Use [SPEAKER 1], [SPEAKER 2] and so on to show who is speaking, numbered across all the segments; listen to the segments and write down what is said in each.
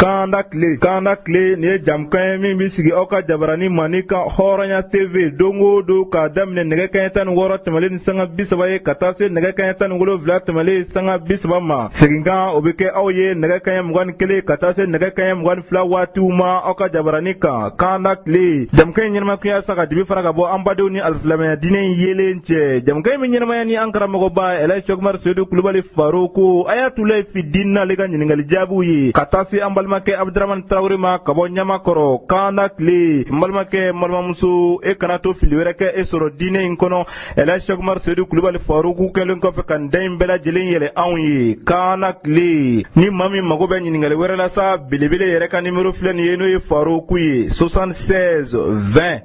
[SPEAKER 1] Kanda tile nin ye jamukan ye min bɛ sigi aw ka jabarani mandi kan hɔrɔnya tv don o don k'a daminɛ nɛgɛ kaɲɛ tan ni wɔɔrɔ tɛmɛlen ni sanga bi saba ye ka taa se nɛgɛ kaɲɛ tan ni wolonfila tɛmɛlen sanga bi saba ma seginkan o bɛ kɛ aw ye nɛgɛ kaɲɛ mugan ni kelen ka taa se nɛgɛ kaɲɛ mugan ni fila waatiw ma aw ka jabarani kan kanda tile jamukan in ɲɛnamaya kun ye sa ka dibi fara ka bɔ an badenw ni alisilamɛya diinɛ in yeelen cɛ jamukan in bɛ ɲɛnamaya ni an karamɔgɔba ɛlɛji sɛkumari sedu kulubali faroku ayatulayi fidini n'ale ka ɲininkali jaabiw ye ka taa se an balimakɛ abudaramani tarawele ma ka bɔ ɲamakɔrɔ kanda tile n balimakɛ n balimamuso e kana to fili wɛrɛ kɛ e sɔrɔ diinɛ in kɔnɔ ɛlɛji sɛkumari sedu kulubali faroku kɛlen kɔfɛ ka da in bɛɛ lajɛlen yɛlɛ anw ye kanda tile ni maa min mago bɛ ɲininkali wɛrɛ la sa belebele yɛrɛ ka nimero filɛ nin ye n'o ye faroku ye 76 20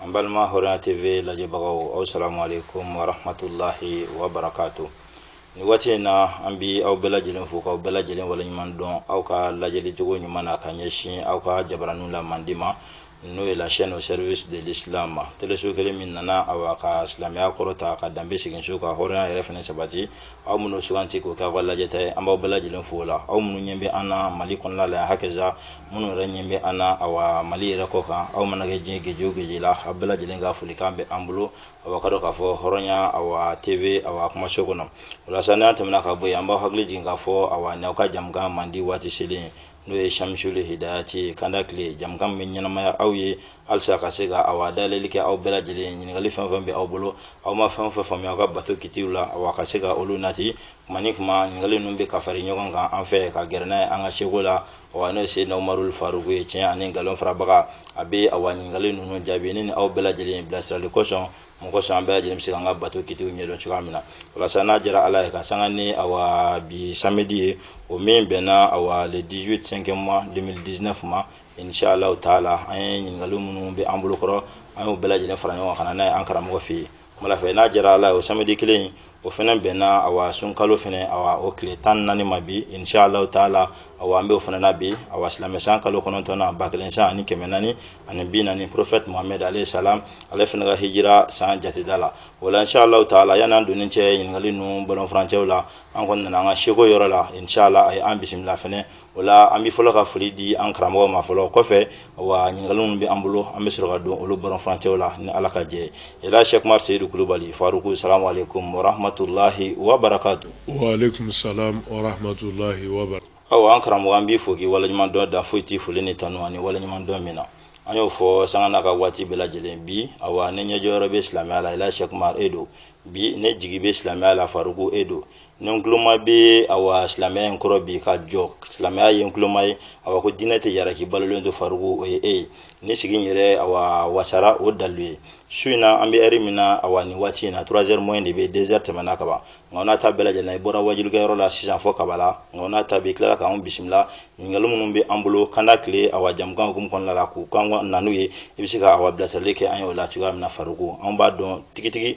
[SPEAKER 2] an balima hɔrɔnya tv lajɛbagaw aw salamu aleykum warahmatulahi wabarakatu ni waati in na an bi aw bɛɛ lajɛlen fo k'aw bɛɛ lajɛlen waleɲuman dɔn aw ka lajɛli cogo ɲuman na ka ɲɛsin aw ka jabaraniw la mandi ma n'o ye la chaîne au service de l'islam teleso kelen min nana awa ka silamɛya kɔrɔta ka danbe segin so ka hɔrɔnya yɛrɛ fana sabati aw minnu suganti k'o kɛ aw ka lajɛta ye an b'aw bɛɛ lajɛlen fo la aw minnu ɲɛ bɛ an na mali kɔnɔna la hakaza minnu yɛrɛ ɲɛ bɛ an na awa mali yɛrɛ kɔ kan aw mana kɛ diɲɛ geje o geje la aw bɛɛ lajɛlen ka folikan bɛ an bolo awa k'a dɔn k'a fɔ hɔrɔnya awa tv awa kumaso kɔnɔ o la sa n'an tɛmɛna ka bɔ yen an b'aw hakili jigin k'a fɔ awa n'aw ka jamukan mandi waati selen n'o ye samisuli hidayati ye kanda tile jamukan bɛ ɲɛnamaya aw ye halisa ka se ka awa dayɛlɛli kɛ aw bɛɛ lajɛlen ɲininkali fɛn fɛn bɛ aw bolo aw ma fɛn fɛn faamuya aw ka bato kitiw la awa ka se ka olu nati kuma ni kuma ɲininkali ninnu bɛ ka fara ɲɔgɔn kan an fɛ ka gɛrɛ n'a ye an ka sɛku la awa n'o ye seyidina umarul faruku ye tiɲɛ ani nkalon farabaga a bɛ awa ɲininkali ninnu jaabi ne ni aw bɛɛ lajɛlen bilasirali kosɔn mun kosɔn an bɛɛ lajɛlen bɛ se k'an ka bato kitiw ɲɛdɔn cogoya min na walasa n'a diyara ala ye ka sanga ni awa bi samedi ye o min bɛnna awa le 18 5 mois 2019 ma inshallah taala an ye ɲininkali minnu bɛ an bolo kɔrɔ an y'o bɛɛ lajɛlen fara ɲɔgɔn kan ka na n'a ye an karamɔgɔ fɛ yen kumala fɛ n'a diyara ala ye o samedi kelen o fana bɛnna awa sunkalo fana awa o tile tan ni naani ma bi inshallahu taala awa an bɛ o fana na bi awa silamɛsan kalo kɔnɔntɔnnan ba kelen san ani kɛmɛ naani ani bi naani prophète mohamɛd alayhi salam ale fana ka hijira san jateda la o la inshallahu taala yani an donni cɛ ɲininkali ninnu bɔlɔn furancɛw la an kɔni nana an ka sɛku yɔrɔ la inshallah a ye an bisimila fana o la an bɛ fɔlɔ ka foli di an karamɔgɔ ma fɔlɔ kɔfɛ awa ɲininkali minnu bɛ an bolo an bɛ sɔrɔ ka don olu bɔlɔn furancɛw la ni ala ka jɛn ɛlɛji sɛkumari seyidu kulubali faruku salamu aleykum warahmatulahi wabarakatu waaleykum
[SPEAKER 3] salam warahmatulahi wabarakatu awa an karamɔgɔ an
[SPEAKER 2] b'i fo k'i waleɲuman dɔn dan foyi t'i foli ni tanu ani waleɲuman dɔn min na an y'o fɔ sanga n'a ka waati bɛɛ lajɛlen bi awa ni ɲɛjɔyɔrɔ bɛ silamɛya la ɛlɛji sɛkumari e don bi ni jigi bɛ silamɛya la faruku e don ni ntuloma bɛ awa silamɛya in kɔrɔ bi ka jɔ silamɛya ye ntuloma ye awa ko diinɛ tɛ yara k'i balolen to Faruku o ye e ye ne sigi n yɛrɛ awa wasara o dalilu ye su in na an bɛ ɛri min na awa nin waati in na trois heures moins de bɛ deux heures tɛmɛna ka ban nka n'a ta bɛɛ lajɛlen na i bɔra wajilikɛyɔrɔ la sisan fɔ kabala nka n'a ta bɛ tilala k'an bisimila ɲininkali minnu bɛ an bolo kanda tile awa jamukan hukumu kɔnɔna la k'u kan na n'u ye i bɛ se ka awa bilasirali kɛ an ye o la cogoya min na Faruku an b'a dɔn tigitigi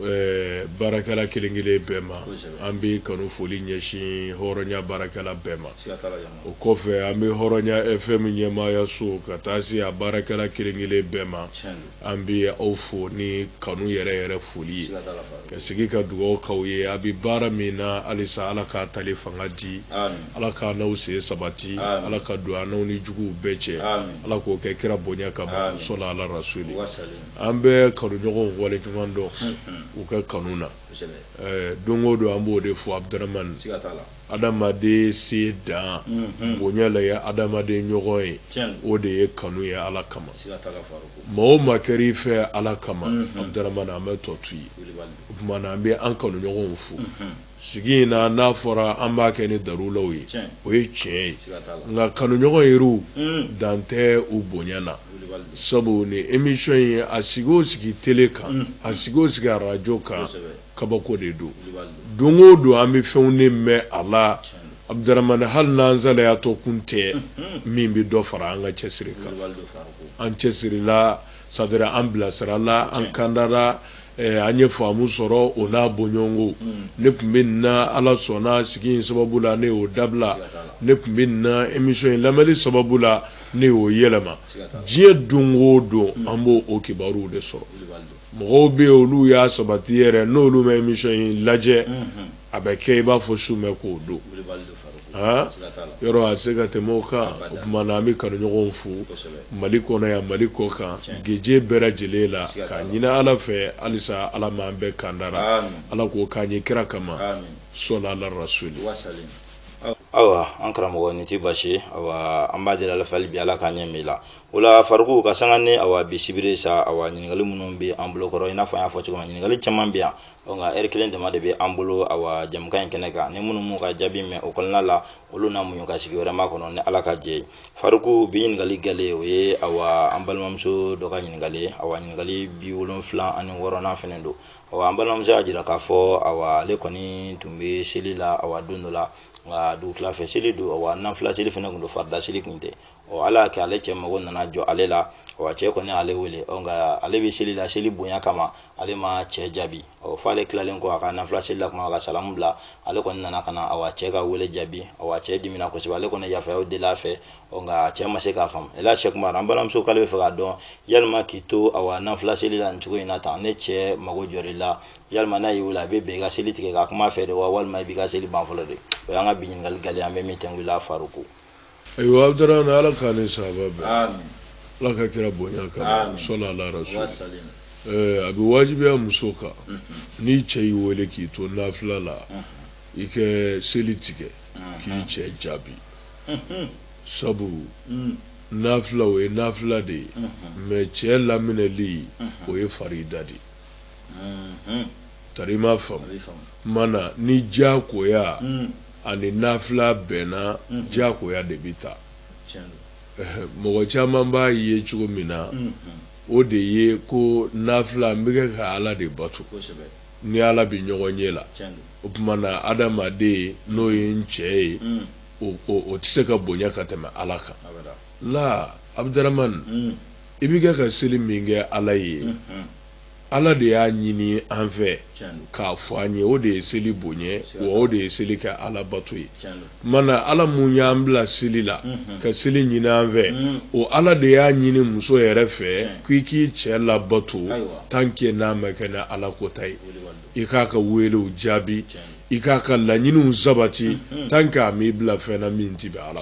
[SPEAKER 3] Ɛɛ baarakɛla kelen kelen bɛɛ ma an bɛ kanu foli ɲɛsin hɔrɔnya baarakɛla bɛɛ ma o kɔfɛ an bɛ hɔrɔnya FM ɲɛmaaya so ka taa se a baarakɛla kelen kelen bɛɛ ma an bɛ aw fo ni kanu yɛrɛ yɛrɛ foli ye ka sigi ka dugawu k'aw ye a bɛ baara min na halisa ala k'a tali fanga di ala k'an n'aw sen sabati ala ka don an n'aw ni juguw bɛɛ cɛ ala k'o kɛ kira bonya kama sɔla ala rasuli An bɛ kanuɲɔgɔnw wale ɲuman dɔn u ka kanu na don o don an b'o de fɔ Abdramane adamaden se dan bonya la ye adamaden ɲɔgɔn ye o de ye kanu ye ala kama maa o maa kɛra i fɛ ala kama Abdramane an bɛ tɔ to yen o tuma an bɛ an kanuɲɔgɔnw fo sigi in na n'a fɔra an b'a kɛ ni darulaw ye o ye tiɲɛ ye nka kanuɲɔgɔn yɛrɛw dan tɛ u bonya na sabu ni emission ye a sigi o sigi tele kan a sigi o sigi arajo kan kabako de don don o don an bɛ fɛnw de mɛn a la Abdramane hali n'an salayatɔ kun tɛ min bɛ dɔ fara an ka cɛsiri kan an cɛsirila c'est-à-dire an bilasirala, an kandara, an ye faamu sɔrɔ o n'a bɔɲɔgɔnko, ne tun bɛ nin na Ala sɔnna sigi in sababu la ne y'o dabila, ne tun bɛ nin na emission in lamɛnni sababu la ne y'o yɛlɛma, diɲɛ don o don an b'o kibaruw de sɔrɔ, mɔgɔw bɛ yen olu y'a sabati yɛrɛ n'olu ma emission in lajɛ A bɛ kɛ i b'a fɔ su bɛ k'o don aa yɔrɔ a se ka tɛmɛ o kan o tuma na an bɛ kanuɲɔgɔnw fo mali kɔnɔ yan mali kɔ kan gese bɛɛ lajɛlen la k'a ɲini ala fɛ halisa ala ma an bɛɛ kandara ala k'o k'an ye kira kama sɔla ala rasuli
[SPEAKER 2] ayiwa an karamɔgɔ ni tɛ baasi an b'a deli ala fɛ hali bi ala k'an ɲɛ min la o la Faruku ka san ni awa bisimila sa awa ɲininkali minnu bɛ an bolo kɔrɔ i n'a fɔ an y'a fɔ cogo min ɲininkali caman bɛ yan ɔ nka ɛri kelen dama de bɛ an bolo awa jamukan in kɛnɛ kan ni minnu m'u ka jaabi mɛn o kɔnɔna la olu na muɲu ka sigi wɛrɛ makɔnɔ ni ala ka jɛn ye Faruku bi ɲininkali galɛ o ye awa an balimamuso dɔ ka ɲininkali ye awa ɲininkali bi wolonfila ani wɔɔrɔnan fɛnɛ don awa an balimamuso y'a jira k'a fɔ awa ale kɔni tun bɛ seli la awa don dɔ la nka dugutila fɛ seli don awa nanfila seli fɛnɛ tun don farida seli tun tɛ ɔ ala y'a kɛ ale cɛ mago nana jɔ ale la awa cɛ kɔni ale wele ɔ nka ale bɛ seli la seli bonya kama ale ma cɛ jaabi ɔ f'ale tilalen kɔ a ka nafila seli la kuma ka salamu bila ale kɔni nana ka na awa cɛ ka wele jaabi awa cɛ dimina kosɛbɛ ale kɔni yafayaw deli a fɛ ɔ nka cɛ ma se k'a faamu ela cɛ kuma an balimamuso k'ale bɛ fɛ k'a dɔn yalima k'i to awa nafila seli la nin cogo in na tan n'i cɛ mago jɔr'i la yalima n'a y'i wele a bɛ bɛn i ka seli tigɛ ka kuma a fɛ de wa walima i b'i ka seli ban fɔlɔ de o y'an ka bi ɲininkali gɛlɛn an bɛ min tɛnku i la faruku ayiwa
[SPEAKER 3] abudaramani ala k'an ni sawaba bɛn ala ka kira bonya kama sɔla ala rasuli a bɛ wajibiya muso kan n'i cɛ y'i wele k'i to nafila la i ka seli tigɛ k'i cɛ jaabi sabu nafila o ye nafila de ye mɛ cɛ laminɛli o ye farida de ye tari i m'a faamu mana ni diyakoya ani nafila bɛnna mhm. diyakoya de bɛ ta mɔgɔ caman b'a ye cogo min na mhm. o de ye ko nafila n bɛ kɛ ka ala de bato ni ala bɛ ɲɔgɔn ɲɛ la o tuma na adamaden n'o ye n cɛ ye mhm. o tɛ se ka bonya ka tɛmɛ ala kan la abudaramani i bɛ kɛ ka seli min kɛ ala ye Ala de y'a ɲini an fɛ k'a fɔ an ye o de ye seli bonya wa o de ye seli kɛ ala bato ye mana ala min y'an bila seli la ka seli ɲini an fɛ o ala de y'a ɲini muso yɛrɛ fɛ k'i k'i cɛ labato tant que n'a ma kɛ ni ala kota ye i k'a ka welew jaabi i k'a ka laɲiniw sabati tant que a m'i bila fɛn na min tɛ bɛn ala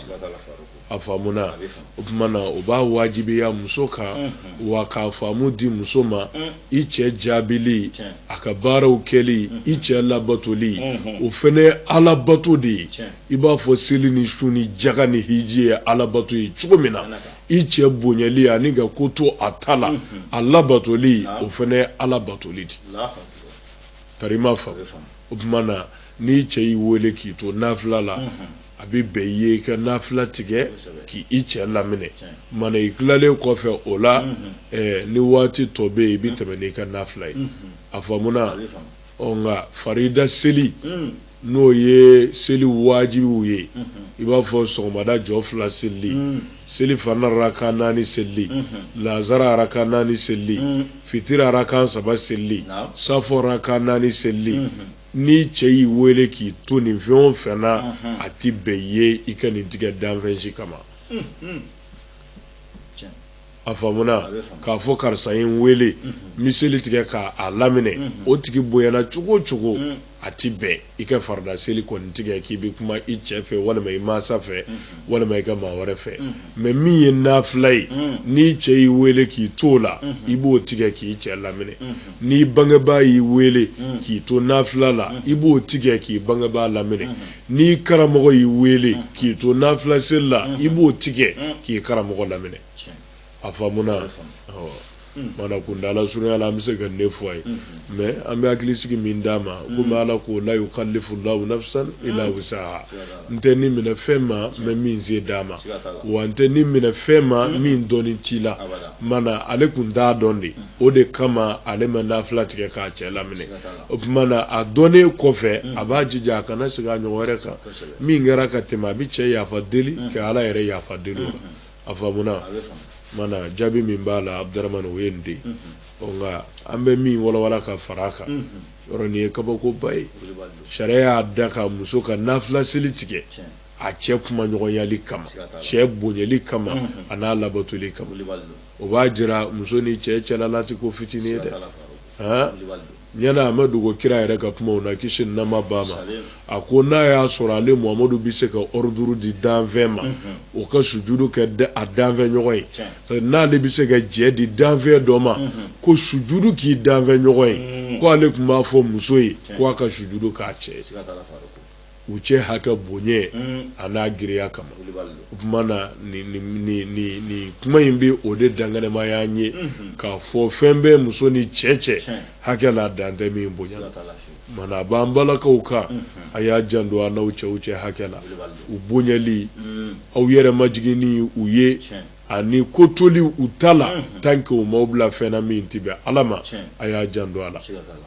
[SPEAKER 3] a faamuna o tuma na o b'a wajibiya muso kan wa k'a faamu di muso ma i cɛ jaabili a ka baaraw kɛli i cɛ labatoli o fana ye alabato de ye i b'a fɔ seli ni sun ni jaga ni hiji ye alabato ye cogo min na i cɛ bonyali ani ka ko to a ta la a labatoli o fana ye alabatoli de tari i m'a faamu o tuma na n'i cɛ y'i wele k'i to nafila la A bɛ bɛn i ye i ka nafila tigɛ k' i cɛ laminɛ mana i tilalen kɔfɛ o la ni waati tɔ bɛ yen i bɛ tɛmɛ n' i ka nafila ye a faamuna nka farida seli n'o ye seli wajibiw ye i b'a fɔ sɔgɔmada jɔ fila seli selifana raka naani seli lazara raka naani seli fitiri raka saba seli safo raka naani seli N'i cɛ y'i wele k'i to nin fɛn o fɛn na a tɛ bɛn ye i ka nin tigɛ danfɛn si kama a faamuna k'a fɔ karisa ye n weele n bɛ seli tigɛ k'a laminɛ o tigi bonyana cogo cogo a tɛ bɛn i ka farida seli kɔni tigɛ k'i bɛ kuma i cɛ fɛ walima i mansa fɛ walima i ka maa wɛrɛ fɛ mɛ min ye nafila ye n'i cɛ y'i weele k'i to o la i b'o tigɛ k'i cɛ laminɛ n'i bangebaa y'i weele mm. k'i to nafila la mm. i b'o tigɛ k'i bangebaa laminɛ mm. n'i karamɔgɔ y'i weele k'i to nafila seli la i b'o tigɛ k'i karamɔgɔ laminɛ a faamuna mana kundala surunya la an bɛ se ka nin fɔ a ye mɛ an bɛ hakili sigi min d'a ma komi ala ko la yukallifu llahu nafsan illa wusa n tɛ ni minɛ fɛn ma n ma min se d'a ma wa n tɛ ni minɛ fɛn ma min dɔnni t'i la mana ale kun t'a dɔn de o de kama ale ma nafila tigɛ k'a cɛ laminɛ o tuma na a dɔnnen kɔfɛ a b'a jija a kana segin a ɲɔgɔn wɛrɛ kan min kɛra ka tɛmɛ a bɛ cɛ yafa deli ka ala yɛrɛ yafa deli o la a faamuna mana jaabi min b'a la Abdurahmane o ye nin de nka an bɛ min walawala ka fara a kan yɔrɔ nin ye kabakoba ye sariya y'a daga muso ka nafila seli tigɛ a cɛ kumaɲɔgɔnyali kama cɛ bonyali kama a n'a labatoli kama o b'a jira muso ni cɛ cɛla la tɛ ko fitinin ye dɛ ɲɛna a ma dogo kira yɛrɛ ka kumaw na kisi ni nɛɛma b'a ma A ko n'a y'a sɔrɔ ale Mohamadu bɛ se ka ordre di danfɛn ma, unhun, o ka sujudu kɛ a danfɛn ɲɔgɔn ye, tiɲɛ, n'ale bɛ se ka jɛ di danfɛn dɔ ma, unhun, ko sujudu k'i danfɛn ɲɔgɔn ye, ko ale tun b'a fɔ muso ye ko a ka sujudu k'a cɛ ye, siga t'a la Faruku, u cɛ hakɛ bonya an'a girinya kama, Kulibali don, o tuma na nin nin nin kuma in bɛ o de dankɛnɛmaya an ye, unhun, k'a fɔ fɛn bɛ muso ni cɛ cɛ, tiɲɛ, hakɛ la dan tɛ min bonya na, siga t'a la. Mana a b'an balakaw kan a y'a janto aw n'aw cɛw cɛ hakɛ la u bonyali aw yɛrɛ majiginni u ye ani ko toli u ta la tant que u m'aw bila fɛn na min tɛ bɛn ala ma a y'a janto a la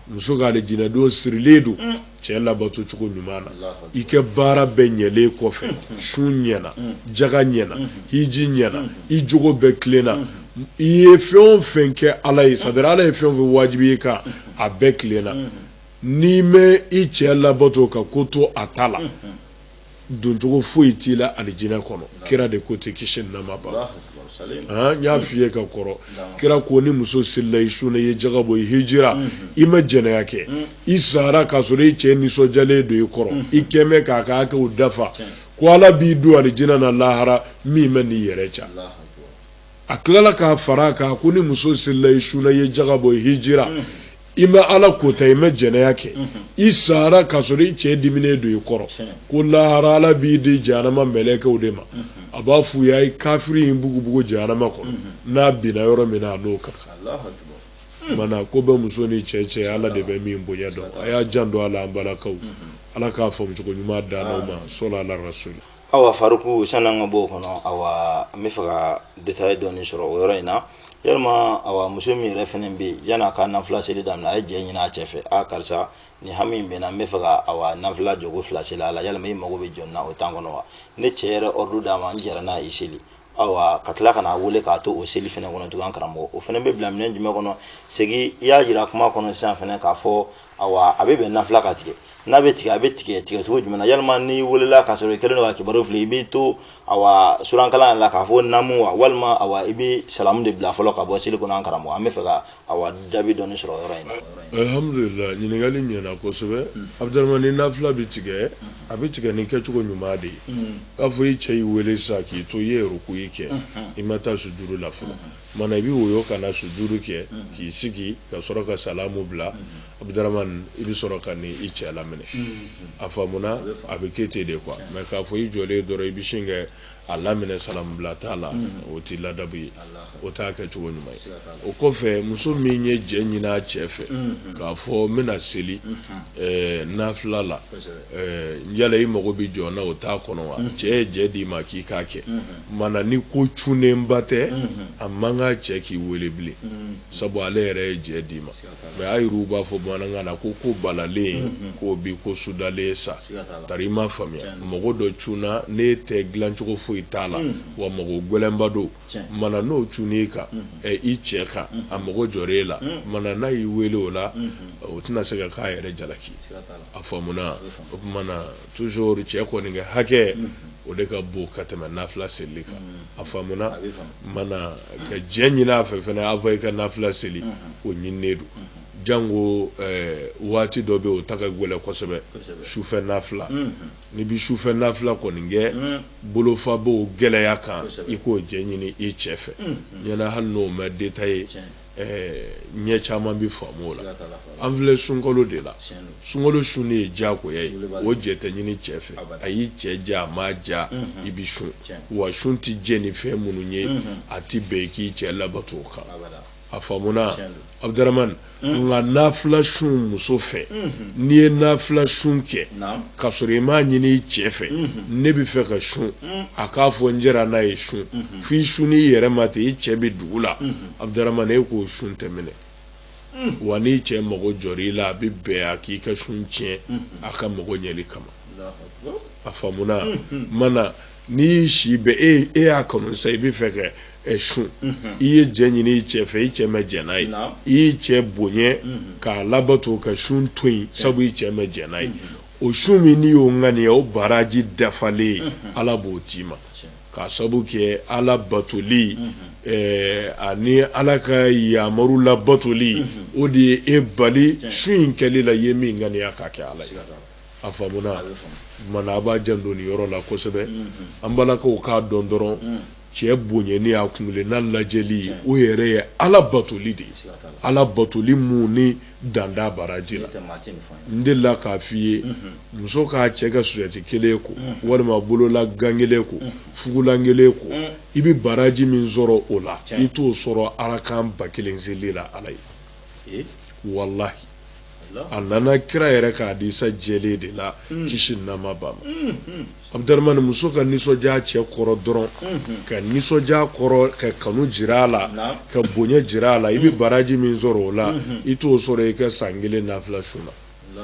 [SPEAKER 3] muso ka alijinɛ don sirilen don cɛ labato cogo ɲuman na i ka baara bɛɛ ɲɛlen kɔfɛ sun ɲɛna jaga ɲɛna hiji ɲɛna i jogo bɛɛ tilenna i ye fɛn o fɛn kɛ ala ye c'est-à-dire ala ye fɛn o fɛn wajibiya i kan a bɛɛ tilenna n'i ma i cɛ labato ka ko to a ta la doncogo foyi t'i la alijinɛ kɔnɔ kira de ko dɛ kisi ni nɛɛma b'a ma n y'a f'i ye ka kɔrɔ kira ko ni muso selila i sunna i ye jaga bɔ i hijira i ma jɛnɛya kɛ i sara k'a sɔrɔ i cɛ nisɔndiyalen don i kɔrɔ i kɛmɛ k'a ka hakɛw dafa ko ala b'i don alijinɛ na lahara min man'i yɛrɛ diya a tilala k'a fara a kan ko ni muso selila i sunna i ye jaga bɔ i hijira i ma ala kota i ma jɛnɛya kɛ i sara k'a sɔrɔ i cɛ diminen don i kɔrɔ ko lahara ala b'i di jahanama mɛlɛkɛw de ma a b'a f'u ye a ye kafiri in bugubugu jahanama kɔnɔ n'a binna yɔrɔ min na a n'o ka kan mana ko bɛ muso ni cɛ cɛ ala de bɛ min bonya dɔn a y'a janto a la an balakaw ala k'a faamu cogo ɲuman d'an ma sɔli ala rasuli awa
[SPEAKER 2] faruku san'an ka b'o kɔnɔ awa n bɛ fɛ ka détail dɔɔni sɔrɔ o yɔrɔ in na yalima awa muso min yɛrɛ fɛnɛ bɛ yen yan'a ka nafila seli daminɛ a ye jɛ ɲini a cɛ fɛ a karisa nin hami in bɛ n na n bɛ fɛ ka awa nafila jogo fila seli a la yalima i mago bɛ jɔ n na o temps kɔnɔ wa ni cɛ yɛrɛ ordre d'a ma n jɛra n'a ye i seli awa ka tila ka n'a wele k'a to o seli fɛnɛ kɔnɔ tugun an karamɔgɔ o fɛnɛ bɛ bila minɛn jumɛn kɔnɔ segi i y'a jira kuma kɔnɔ sisan fɛnɛ k'a fɔ awa a bɛ bɛn nafila ka tigɛ n'a bɛ tigɛ a bɛ tigɛ tigɛ cogo jumɛn na yalima n'i welela k'a sɔrɔ i kɛlen don ka kibaru fili i b'i to awa surankalan yɛrɛ la k'a fɔ naamu wa walima awa i bɛ salamu de bila fɔlɔ ka bɔ seli kɔnɔ an karamɔgɔ an bɛ fɛ ka awa jaabi dɔɔni sɔrɔ o yɔrɔ in na. Alhamdulilahi
[SPEAKER 3] ɲininkali ɲɛna kosɛbɛ Abudaramani ni nafila bɛ tigɛ a bɛ tigɛ ni kɛcogo ɲuman de ye k'a fɔ i cɛ y'i wele sisan k'i to i ye rukuyi kɛ i ma taa sujudu la fɔlɔ mana i bɛ woyo ka na sujudu kɛ k'i sigi ka sɔrɔ ka salamu bila Abudaramani i bɛ sɔrɔ ka n'i cɛ laminɛ a faamuna a bɛ kɛ ten de quoi mais k'a fɔ i jɔlen dɔrɔn i bɛ sin ka a laminɛ salamu bila t'a la o tɛ ladabu ye o t'a kɛcogo ɲuman ye o kɔfɛ muso min ye jɛ ɲini a cɛ fɛ k'a fɔ n bɛna seli nafila la yala i mago bɛ jɔ n na o temps kɔnɔ wa cɛ ye jɛ d'i ma k'i k'a kɛ mana ni ko cunenba tɛ a man kan cɛ k'i wele bilen sabu ale yɛrɛ ye jɛ d'i ma mais a yɛrɛw b'a fɔ bamanankan na ko ko balalen k'o bi ko sudalen sa tari i m'a faamuya mago dɔ cunna n'e tɛ dilancogo foyi t'a la wa mago gɛlɛnba don mana n'o cunn'i kan i cɛ kan a mago jɔr'e la mana n'a y'i wele o la o tɛna se ka k'a yɛrɛ jalaki a faamuna o Toujours cɛ kɔni ka hakɛ o de ka bon ka tɛmɛ nafila selili kan a faamuna mana ka jɛ ɲini a fɛ fana avant i ka nafila seli o ɲininen don jango waati dɔ bɛ yen o ta ka gɛlɛn kosɛbɛ sufɛ nafila n'i bɛ sufɛ nafila kɔni kɛ bolofa b'o gɛlɛya kan i k'o jɛ ɲini i cɛ fɛ ɲɛna hali n'o ma detailler ɲɛ caman bɛ faamu la an filɛ sunkalo de la sunkalo sun de ye diyagoya ye o jɛ tɛ ɲini cɛ fɛ a y'i cɛ ja a ma ja i bɛ sun wa sun tɛ jɛ ni fɛn minnu ye a tɛ bɛn i k'i cɛ labato o kan a faamuna Abdurahman nka nafila sun muso fɛ n'i ye nafila sun kɛ ka sɔrɔ i m'a ɲini i cɛ fɛ ne bɛ fɛ ka sun a k'a fɔ n jɛra n'a ye sun f'i sunn'i yɛrɛ ma ten i cɛ bɛ dugu la Abdurahman e k'o sun tɛ minɛ wa n'i cɛ mago jɔr'i la a bɛ bɛn a k'i ka sun tiɲɛ a ka mago ɲɛli kama a faamuna mana n'i y'i si bɛ e e y'a kanu sa i bɛ fɛ kɛ sun i ye jɛ ɲini i cɛ fɛ i cɛ mɛ jɛ n'a ye i y'i cɛ bonya k'a labato ka sun to yen sabu i cɛ mɛ jɛ n'a ye o sun min n'i y'o ŋaniya o baraji dafalen ye ala b'o d'i ma K'a sabu kɛ ala batoli ani ala ka yamaru labatoli o de ye e bali sun in kɛli la i ye min ŋaniya k'a kɛ ala ye a faamuna mana a b'a janto nin yɔrɔ la kosɛbɛ an balakaw k'a dɔn dɔrɔn cɛ bonyani a kun n'a lajɛli o yɛrɛ ye ala batoli de ye ala batoli min ni dan t'a baraji la n delila k'a f'i ye muso k'a cɛ ka sosɛti kelen ko walima bolola gan kelen ko fugulan kelen ko i bɛ baraji min sɔrɔ o la i t'o sɔrɔ arakan ba kelen seli la ala ye walayi a nana kira yɛrɛ ka hadisa jɛlen de la kisi ni nɛɛma b'a ma Abdurahman muso ka nisɔndiya cɛ kɔrɔ dɔrɔn ka nisɔndiya kɔrɔ ka kanu jira a la ka bonya jira a la i bɛ baraji min sɔrɔ o la i t'o sɔrɔ i ka san kelen nafila sun na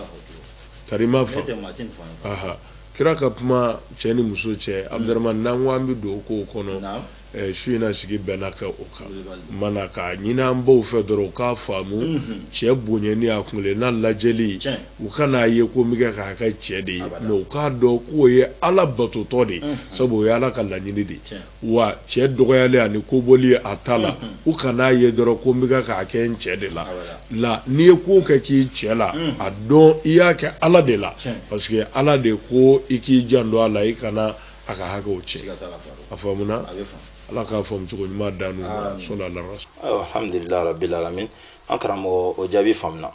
[SPEAKER 3] ka ma fɔ kira ka kuma cɛ ni muso cɛ Abdurahman n'an ko an bɛ don o kow kɔnɔ Su in na sigi bɛna kɛ o kan mana ka ɲini an baw fɛ dɔrɔn u k'a faamu cɛ bonya ni a kun n'a lajɛli u kan'a ye ko bɛ kɛ k'a kɛ cɛ de ye mɛ u k'a dɔn k'o ye ala batotɔ de ye sabu o ye ala ka laɲini de ye wa cɛ dɔgɔyali ani ko bɔli a ta la u kan'a ye dɔrɔn ko bɛ k'a kɛ n cɛ de la la n'i ye ko kɛ k'i cɛ la a dɔn i y'a kɛ ala de la parce que ala de ko i k'i janto a la i kana A ka hakɛ cɛ a faamuna ala k'a faamu cogo ɲuman
[SPEAKER 2] d'an ma alhamdulillah rabbil alamin an karamɔgɔ o jaabi faamuna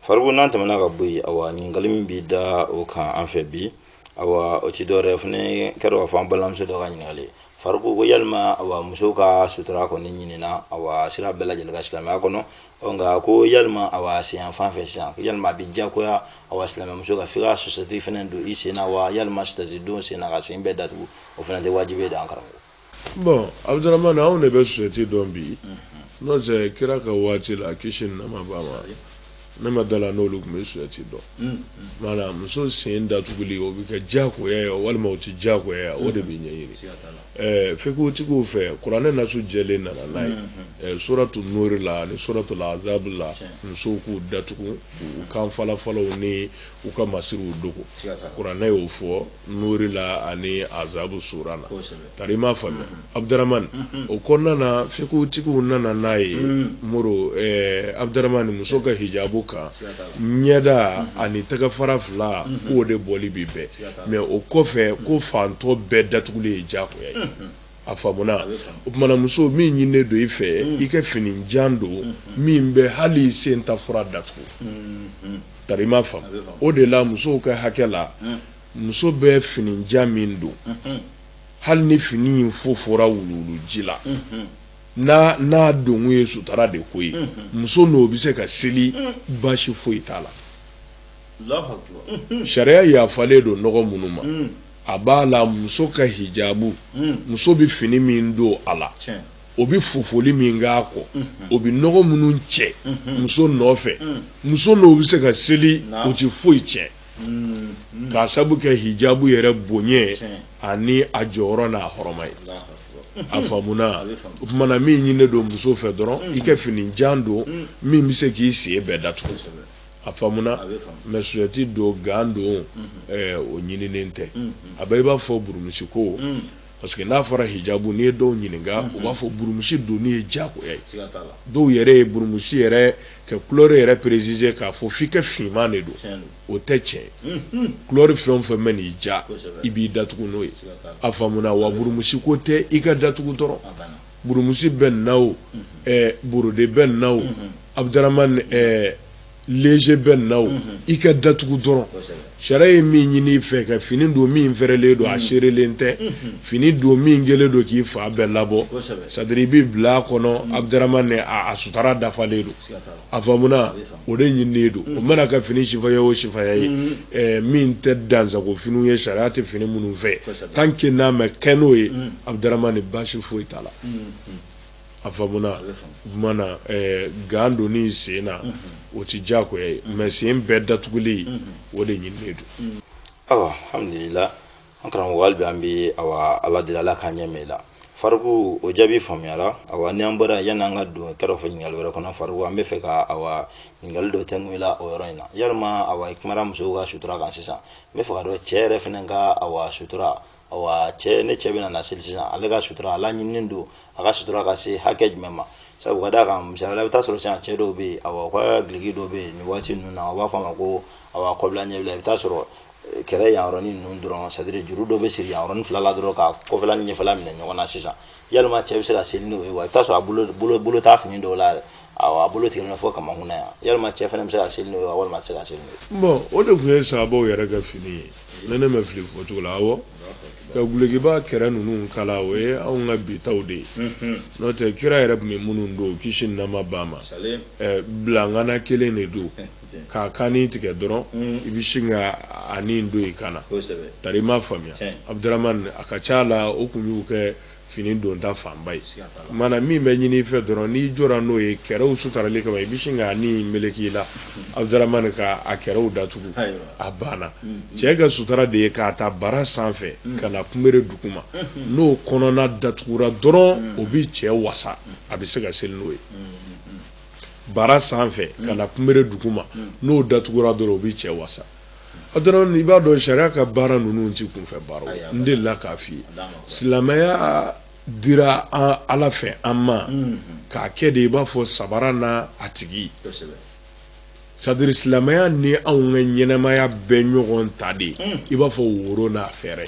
[SPEAKER 2] Faruku n'an tɛmɛna ka bɔ yen awa ɲininkali min bɛ da o kan an fɛ bi awa o tɛ dɔwɛrɛ fo ni kɛra k'a fɔ an balimamuso dɔ ka ɲininkali Faruku ko yalima awa muso ka sutura kɔni ɲinina awa sira bɛɛ lajɛlen kan silamɛya kɔnɔ nka ko yalima a wa sen fan fɛ sisan yalima a bɛ diyagoya a wa silamɛmuso ka f'i ka sosɛti fana don i sen na wa yalima sosɛti don sen na ka sen bɛɛ datugu o fana tɛ wajibi ye dɛ an karamɔgɔ. bɔn
[SPEAKER 3] abuduramani anw de bɛ sosɛti dɔn bi n'o tɛ kira ka waati la kisi ni nɛɛma b'a ma ne ma da a la n'olu tun bɛ sosɛti dɔn maana muso sen datuguli o bɛ kɛ diyagoya ye walima o tɛ diyagoya ye o de bɛ ɲɛɲini. fikutigiw fɛ kuranɛ nasu jɛlen nana n'a ye suratu nuri la ani suratu la azabu la musow k'u datugu u kan falafalaw ni u ka masiriw dogo kuranɛ y'o fɔ nuri la ani azabu sura la tari i m'a faamu abuduramani o kɔnɔna na fikutigiw nana n'a ye mori abuduramani muso ka hijabu kan ɲɛda ani tɛgɛfara fila k'o de bɔli bɛ bɛn mɛ o kɔfɛ ko fan tɔ bɛɛ datuguli ye diyagoya ye a faamuna o tuma na muso min ɲininen don i fɛ i ka fini jan don min bɛ hali sen ta fura datugu tari i m'a faamu o de la musow ka hakɛ la muso bɛ fini jan min don hali ni fini in fofora wuluwuluji la n'a donko ye sutara de ko ye muso n'o bɛ se ka seli baasi foyi t'a la sariya yafalen don nɔgɔ minnu ma a b'a la muso ka hijabu muso bɛ fini min don a la o bɛ fofoli min kɛ a kɔ o bɛ nɔgɔ minnu cɛ muso nɔfɛ muso n'o bɛ se ka seli o tɛ foyi tiɲɛ k'a sabu kɛ hijabu yɛrɛ bonya ani a jɔyɔrɔ n'a hɔrɔma ye a faamuna o tuma na min ɲininen don muso fɛ dɔrɔn i ka fini jan don min bɛ se k'i sen bɛɛ dat a faamuna mɛ sosɛti don gan don o ɲininen tɛ a bɛ i b'a fɔ burumusi ko parce que n'a fɔra hijabu n'i ye dɔw ɲininka u b'a fɔ burumusi donni ye diyagoya ye dɔw yɛrɛ ye burumusi yɛrɛ ka kulɛri yɛrɛ préciser k'a fɔ f'i ka finman de don o tɛ tiɲɛ ye kulɛri fɛn o fɛn bɛ n'i diya i b'i datugu n'o ye a faamuna wa burumusi ko tɛ i k'i datugu dɔrɔn Burumusi bɛnna o borode bɛnna o abuduramani léger bɛnna o i k'i datugu dɔrɔn sariya ye min ɲini i fɛ ka fini don min fɛrɛlen don a serelen tɛ fini don min kɛlen don k'i fan bɛɛ labɔ c'est-à-dire i bɛ bila a kɔnɔ abuduramani a sutara dafalen don a faamuna o de ɲininen don o mana kɛ fini sifaya o sifaya ye min tɛ dansago finiw ye sariya tɛ fini minnu fɛ tant que n'a ma kɛ n'o ye abuduramani baasi foyi t'a la a faamuna gan donni sen na o tɛ diyagoya ye mɛ sen bɛɛ datuguli o de ɲininen don
[SPEAKER 2] an karamɔgɔ hali bi an bɛ awa ala deli ala k'an ɲɛ mɛn i la fariku o jaabi faamuyara awa ni an bɔra yanni an ka don kɛrɛfɛ ɲininkali wɛrɛ kɔnɔ fariku an bɛ fɛ ka awa ɲininkali dɔ tɛngu i la o yɔrɔ in na yalima awa i kumara musow ka sutura kan sisan n bɛ fɛ ka dɔn cɛ yɛrɛ fana ka awa sutura awa cɛ ne cɛ bɛna na seli sisan ale ka sutura a laɲininen don a ka sutura ka se hakɛ jumɛn ma sabu ka d'a kan misali la i bɛ taa sɔrɔ sisan cɛ dɔw bɛ yen awa u ka giliki dɔ bɛ yen nin waati ninnu na u b'a fɔ a ma ko awa kɔbila ɲɛbila i bɛ taa sɔrɔ kɛrɛ yan yɔrɔni ninnu dɔrɔn c'est-à-dire juru dɔ bɛ siri yan yɔrɔni fila la dɔrɔn ka kɔfɛla ni ɲɛfɛla minɛ ɲɔgɔn na sisan yalima cɛ bɛ se ka seli n'o ye wa i bɛ t'a sɔrɔ a bolo bolo bolo t'a fini dɔw la yɛrɛ awɔ a bolo tigɛlen don fo kamakun na yan yalima cɛ fana bɛ se ka seli n'o ye wa walima a tɛ se ka seli n'o ye. bon o de tun ye
[SPEAKER 3] sahabaw yɛrɛ ka fini ye ni ne ma fili fɔcogo la awɔ ka gulekiba kɛrɛ ninnu kala o ye anw ka bi taw de ye n'o tɛ kira yɛrɛ tun bɛ minnu don kisi ni nɛɛma b'a ma bilangana kelen de don. K'a kanni tigɛ dɔrɔn i bɛ sin ka a nin don i kan na tari i m'a faamuya Abdramane a ka ca la o tun y'u ka fini donta fanba ye mana min bɛ ɲini i fɛ dɔrɔn n'i jɔ n'o ye kɛrɛw sutarali kama i bɛ sin ka nin meleke i la Abdramane ka a kɛrɛw datugu a banna cɛ ka sutara de ye k'a ta bara sanfɛ ka na kunbere duguma n'o kɔnɔna datugura dɔrɔn o bɛ cɛ wasa a bɛ se ka seli n'o ye bara sanfɛ ka na kunbere duguma n'o datugura dɔrɔn o bɛ cɛ wasa i b'a dɔn sariya ka baara ninnu tɛ kunfɛ baara n delila k'a f'i ye silamɛya dira ala fɛ an ma k'a kɛ de i b'a fɔ sabara n'a tigi c'est-à-dire silamɛya ni anw ka ɲɛnɛmaya bɛɛ ɲɔgɔn ta de i b'a fɔ woro n'a fɛɛrɛ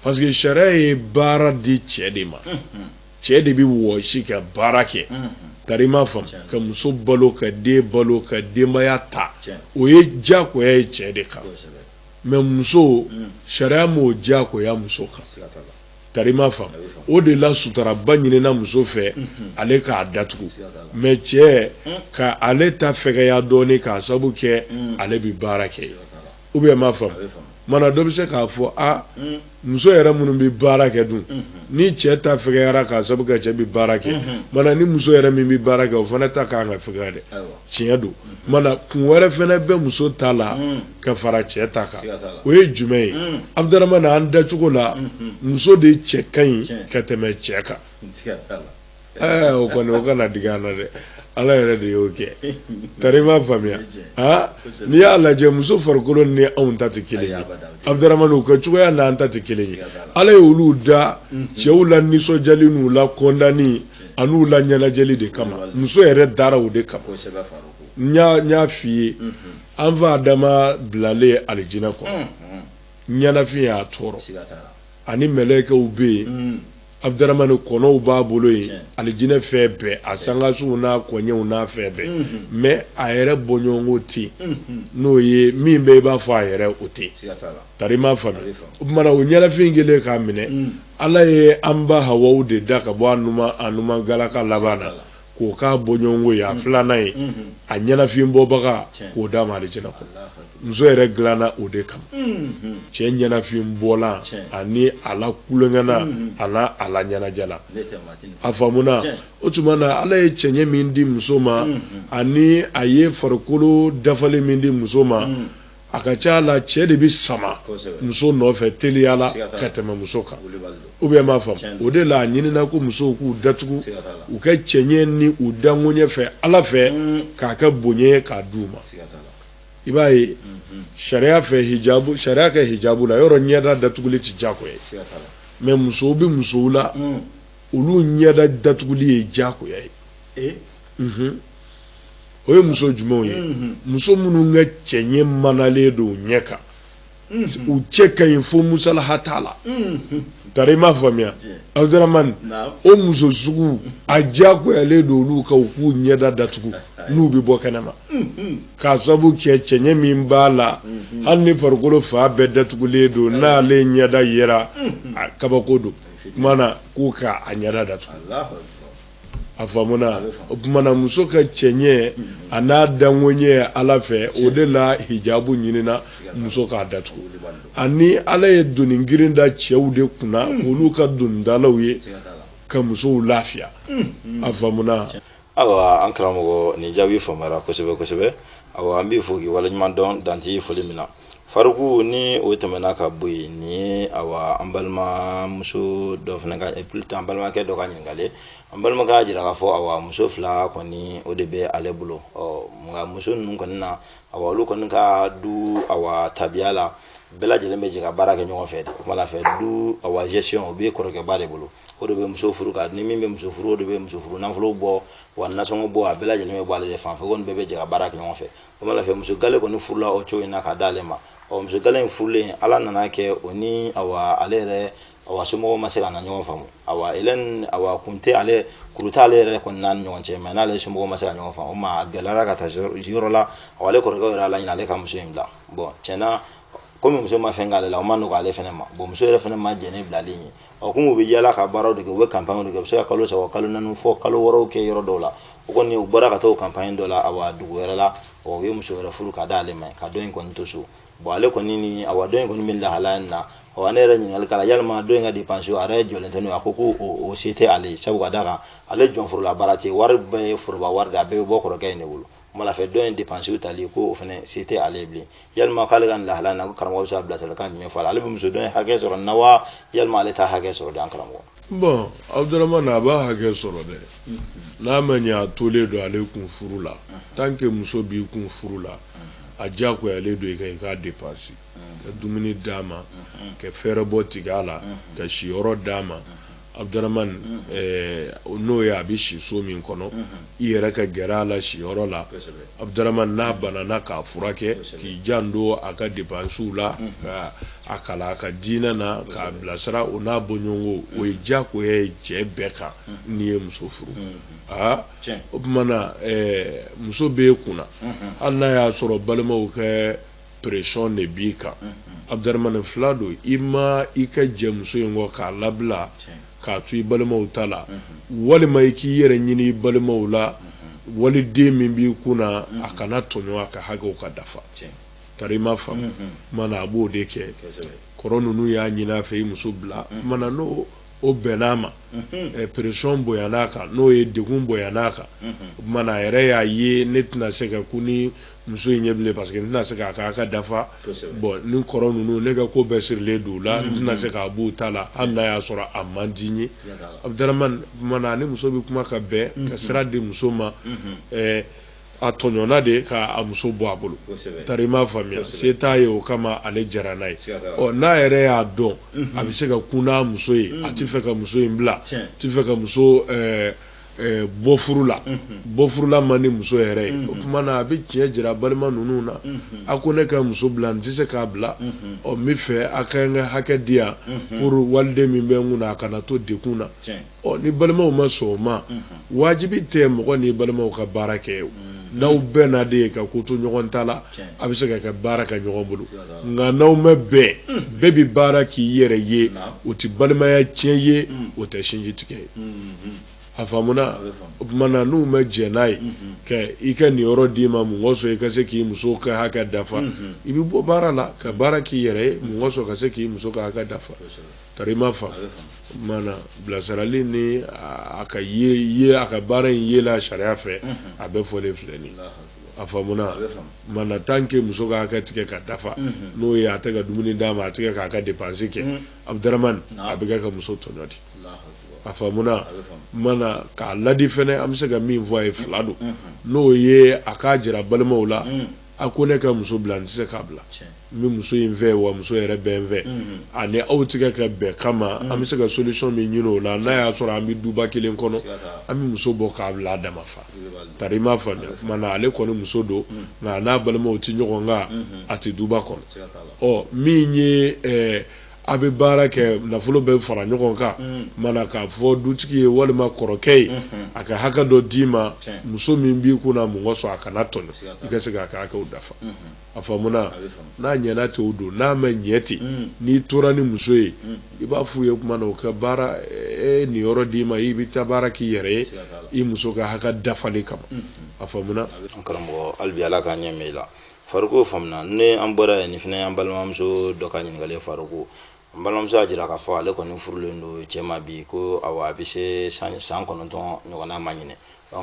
[SPEAKER 3] parce que sariya ye baara di cɛ de ma cɛ de bɛ wɔsi ka baara kɛ tari i m'a faamu ka muso balo ka den balo ka denbaya ta o ye diyagoya ye cɛ de kan mais muso mm. sariya ma o diyagoya muso kan tari i m'a faamu o de la sutaraba ɲinina muso fɛ mm-hmm. ale k'a datugu mais cɛ mm. ka ale ta fɛgɛya dɔɔnin k'a sabu kɛ mm. ale bɛ baara kɛ ou bien i m'a faamu mana dɔ bɛ se k'a fɔ a muso yɛrɛ minnu bɛ baara kɛ dun ni cɛ ta fɛgɛyara k'a sabu kɛ cɛ bɛ baara kɛ mana ni muso yɛrɛ min bɛ baara kɛ o fana ta ka kan ka fɛgɛya dɛ tiɲɛ don mana kun wɛrɛ fana bɛ muso ta la ka fara cɛ ta kan o ye jumɛn ye Abdramane an dacogo la muso de cɛ ka ɲi ka tɛmɛ cɛ kan o kɔni o kana digi an na dɛ ala yɛrɛ de y'o kɛ tari m'a faamuya aa n'i y'a lajɛ muso farikolo ni anw ta tɛ kelen ye Abudaramani u ka cogoya n'an ta tɛ kelen ye ala ye olu da cɛw la nisɔndiyali n'u la kɔntan an'u la ɲɛnajɛli de kama muso yɛrɛ dara o de kama n y'a f'i ye an fa Adama bilalen alijinɛ kɔnɔ ɲɛnafin y'a tɔɔrɔ ani mɛlɛkɛw bɛ yen Abudaramani kɔnɔw b'a bolo yen alijinɛ fɛn bɛɛ a sankasow n'a koɲɛw n'a fɛn bɛɛ mɛ a yɛrɛ bɔɲɔgɔnko tɛ n'o ye min bɛ i b'a fɔ a yɛrɛ o tɛ tari i m'a faamu o tumana o ɲɛnafin kɛlen k'a minɛ ala ye an ba hawa de da ka bɔ a numan galaka laban na k'o k'a bɔɲɔgɔnko ye a mm. filanan ye mm-hmm. a ɲɛnafin bɔbaga k'o d'a ma alijɛnɛ kɔnɔ muso yɛrɛ dilanna o de kama mm-hmm. cɛ ɲɛnafin bɔlan ani a la kulonkɛna mm-hmm. an'a la ɲɛnajɛla a faamuna o tuma na ala ye cɛɲɛ min di muso ma ani a ye farikolo dafalen min di muso ma A ka ca la cɛ de bɛ sama muso nɔfɛ teliyala ka tɛmɛ muso kan ou bien m'a faamu o de la a ɲinina ko musow k'u datugu u ka cɛɲɛ ni u dankoɲɛ fɛ ala fɛ k'a kɛ bonya k'a d'u ma i b'a ye sariya fɛ sariya kɛ hijabu la yɔrɔ ɲɛda datuguli tɛ jakoya ye mɛ musow bɛ musow la olu ɲɛda datuguli ye jakoya ye o ye muso jumɛnw ye muso minnu ka cɛɲɛ manalen don ɲɛ kan u cɛ ka ɲi fo musalaha t'a la tari i m'a faamuya Abudaramani o muso sugu a jakoyalen don olu ka u k'u ɲɛda datugu n'u bɛ bɔ kɛnɛ ma k'a sabu kɛ cɛɲɛ min b'a la hali ni farikolo fan bɛɛ datugulen don n'ale ɲɛda yera kabako don o tumana k'u k'a ɲɛda datugu a faamuna o tumana muso ka cɛɲɛ an'a dankoɲɛ ala fɛ o de la hijabu ɲinina muso k'a datugu ani ala ye doni girin da cɛw de kunna hmm. olu ka donitalaw ye ka musow lafiya hmm. a faamuna awa an
[SPEAKER 2] karamɔgɔ nin jaabi faamuyara kosɛbɛ kosɛbɛ awa an b'i fo k'i waleɲuman dɔn danti foli min na Faruku ni o tɛmɛna ka bɔ yen nin awa an balimamuso dɔ fana ka plutôt an balimakɛ dɔ ka ɲininkali ye an balimakɛ y'a jira k'a fɔ awa muso fila kɔni o de bɛ ale bolo ɔ nka muso ninnu kɔni na awa olu kɔni ka du awa tabiya la bɛɛ lajɛlen bɛ jɛ ka baara kɛ ɲɔgɔn fɛ de o kumana fɛ du awa gestion o bɛ kɔrɔkɛba de bolo o de bɛ muso furu ka ni min bɛ muso furu o de bɛ muso furu nafolo bɔ wa nasɔngɔ bɔ a bɛɛ lajɛlen bɛ bɔ ale de fan fɛ o kɔni bɛɛ bɛ jɛ ka baara kɛ ɲɔgɔn fɛ o kumana fɛ muso gale kɔni furula o cogo in na ka d'ale ma ɔ muso gale in furulen ala nana kɛ o ni awa ale yɛrɛ awa somɔgɔw ma se ka na ɲɔgɔn faamu awa elɛn awa kun tɛ ale kuru tɛ ale yɛrɛ kɔni n'a ni ɲɔgɔn cɛ mɛ n'ale somɔgɔw ma se ka ɲɔgɔn faamu o ma a gɛlɛyara ka taa yɔrɔ la awa ale kɔrɔkɛw yɛrɛ ala ɲini ale ka muso in bila bɔn tiɲɛ na komi muso ma fɛn k'ale la o ma nɔgɔ ale fɛnɛ ma bɔn muso yɛrɛ fɛnɛ ma jɛn ni bilali ye ɔ komi u bɛ yala ka baaraw de kɛ u bɛ kanpaɲɛw de kɛ u bɛ se ka kalo saba kalo naani fɔ kalo wɔɔrɔ kɛ yɔrɔ dɔw la o kɔni u bɔra ka taa o kanpaɲɛ dɔ la awa dugu wɛrɛ la ɔ u ye muso wɛrɛ furu ka da ale ma ka dɔ in kɔni to so bɔn ale kɔni ni awa dɔ in kɔni bɛ lahalaya nin na ɔ ne yɛrɛ ɲininkali k'a la yalima dɔ in ka depansi a yɛrɛ jɔlen tɛ n'o ye a ko ko o se tɛ ale ye sabu ka d'a kan ale jɔnforola baara tɛ wari bɛɛ ye foroba wari de a bɛɛ bɛ bɔ kɔrɔkɛ in de bolo malafɛ dɔ in depansiw tali ko o fana se tɛ ale ye bilen yalima k'ale ka nin lahalaya na ko karamɔgɔ bɛ se ka bilasiralikan jumɛn fɔ a la ale bɛ muso dɔ in hakɛ sɔrɔ na wa yalima ale t'a hakɛ sɔrɔ de an karamɔgɔ bɔn
[SPEAKER 3] abudurahmani a b'a hakɛ sɔrɔ dɛ n'a ma ɲɛ a tolen don ale kun furu la tant que muso b'i kun furu la a diyagoyalen don i kan i k'a depansi ka dumuni d'a ma ka fɛɛrɛbɔ tigɛ a la ka siyɔrɔ d'a ma Abudurahmani n'o ye a bɛ si so min kɔnɔ i yɛrɛ ka gɛrɛ a la siyɔrɔ la Abudurahmani n'a banana k'a furakɛ k'i janto a ka depansiw la ka a kalan a ka diinɛ na k'a bilasira o n'a bɔɲɔgɔnko o ye jagoya ye cɛ bɛɛ kan n'i ye muso furu aa o kumana muso b'e kunna hali n'a y'a sɔrɔ balimaw ka pression de b'i kan Abdaramani fila don ima i ka jɛ muso in kɔ k'a labila k'a to i balimaw ta la walima i k'i yɛrɛ ɲini i balimaw la waliden min b'i kunna a kana tɔɲɔ a ka hakɛw ka dafa tari i ma faamu mana a b'o de kɛ kɔrɔ ninnu y'a ɲini a fɛ i muso bila mana n'o o bɛnn'a ma pression bonyan'a kan n'o ye degun bonyan'a kan mana a yɛrɛ y'a ye ne tɛna se ka kun ni Muso in ye bilen parce que n tɛna se k'a ka hakɛ dafa bɔn ni kɔrɔ ninnu ne ka ko bɛɛ sirilen don u la n tɛna se k'a b'u ta la hali n'a y'a sɔrɔ a man di n ye Abudurahmani ni muso bɛ kuma ka bɛn ka sira di muso ma a tɔɲɔna de k'a muso bɔ a bolo tari i m'a faamuya se t'a ye o kama ale jɛra n'a ye ɔ n'a yɛrɛ y'a dɔn a bɛ se ka kun ni muso ye a tɛ fɛ ka muso in bila a tɛ fɛ ka muso bɔ furu la bɔ furu la man di muso yɛrɛ ye o kuma na a bɛ tiɲɛ jira balima ninnu na a ko ne ka muso bila n tɛ se k'a bila ɔ n b'a fɛ a ka n ka hakɛ di yan pour waliden min bɛ n kunna a kana to degun na ɔ ni balimaw ma sɔn o ma wajibi tɛ mɔgɔ ni balimaw ka baara kɛ n'aw bɛnna de ye ka ko to ɲɔgɔn ta la a bɛ se ka kɛ baara kɛ ɲɔgɔn bolo nka n'aw ma bɛn bɛɛ bɛ baara k'i yɛrɛ ye o tɛ balimaya tiɲɛ ye o tɛ sinji tigɛ ye a faamuna o tuma na n'u ma jɛn n'a ye i ka niyɔrɔ d'i ma mun kɔsɔn i ka se k'i muso ka hakɛ dafa i bɛ bɔ baara la ka baara k'i yɛrɛ ye mun kɔsɔn ka se k'i muso ka hakɛ dafa tari i m'a faamu bilasirali ni a ka a ka baara in yela sariya fɛ a bɛɛ fɔlen filɛ nin a faamuna mana tant que muso ka hakɛ tɛ kɛ ka dafa n'o ye a tɛ ka dumuni d'a ma a tɛ kɛ k'a ka dépense kɛ Abdramane a bɛ kɛ ka muso tɔɲɔ di a faamuna mana k'a ladi fana an bɛ se ka min fɔ a ye fila don n'o ye a k'a jira balimaw la a ko ne ka muso bila n tɛ se k'a bila n bɛ muso in fɛ wa muso yɛrɛ bɛ n fɛ ani aw tɛ kɛ ka bɛn kama an bɛ se ka solution min ɲini o la n'a y'a sɔrɔ an bɛ duba kelen kɔnɔ an bɛ muso bɔ k'a bila a dama fa tari m'a faamuya tuma na ale kɔni muso don nka n'a balimaw tɛ ɲɔgɔn kan a tɛ duba kɔnɔ ɔ min ye eh, a bɛ baara kɛ nafolo bɛ fara ɲɔgɔn kan mana k'a fɔ dutigi ye walima kɔrɔkɛ ye a ka hakɛ dɔ d'i ma muso min b'i kunna mun kɔsɔn a kana tɔɲɔ i ka se k'a ka hakɛw dafa a faamuna n'a ɲɛna ten o don n'a ma ɲɛ ten n'i tora ni muso ye i b'a f'u ye tuma na u ka baara e niyɔrɔ d'i ma i bɛ taa baara k'i yɛrɛ ye i muso ka hakɛ dafali kama a faamuna karamɔgɔ hali
[SPEAKER 2] bi ala k'a ɲɛ i la Faruku faamuna ni an bɔra yen nin fana an balimamuso dɔ ka ɲininkali Faruku N balimamuso y'a jira k'a fɔ ale kɔni furulen don cɛ ma bi ko awa a bɛ se san kɔnɔntɔn ɲɔgɔnna ma ɲinɛ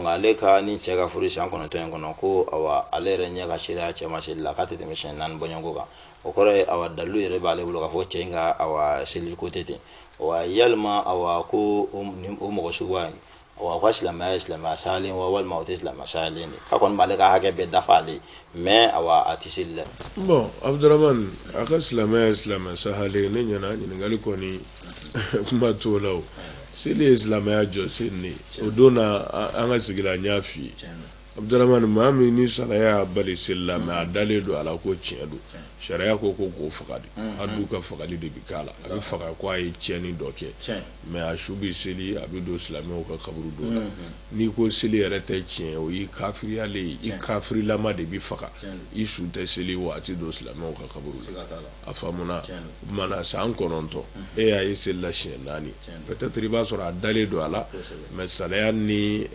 [SPEAKER 2] ale ka ni cɛ ka furu san kɔnɔntɔn in kɔnɔ ko awa ale yɛrɛ ɲɛ ka seereya cɛ ma seli la k'a tɛ tɛmɛ siɲɛ naani bɔɲɔgɔnko kan o kɔrɔ ye awa dalilu yɛrɛ b'ale bolo k'a fɔ cɛ in ka awa seli ko tɛ ten wa yalima awa ko o mɔgɔ suguya wa u ka silamɛya ye silamɛya sahalen wa walima o tɛ silamɛya sahalen de k'a kɔni b'ale ka hakɛ bɛɛ dafa ale ye mais awa a tɛ seli dɛ. bon
[SPEAKER 3] Abdramane a ka silamɛya ye silamɛya sahalen ne ɲɛna ɲininkali kɔni kuma t'o la o seli ye silamɛya jɔsen de ye o don na an ka sigi la n y'a f'i ye. Abdramane maa min ni salaya y'a bali seli la mais a dalen don a la ko tiɲɛ don sariya ko ko k'o faga di hadu ka fagali de bɛ k'a la a bɛ faga ko a ye tiɲɛni dɔ kɛ mais a su bɛ seli a bɛ don silamɛw ka kaburudo la n'i ko seli yɛrɛ tɛ tiɲɛ o y'i kafiriyalen ye i kafirilama de bɛ faga i su tɛ seli wa a tɛ don silamɛw ka kaburu la a faamuna mana san kɔnɔntɔn e y'a ye seli la siɲɛ naani peut-être i b'a sɔrɔ a dalen don a la mais salaya ni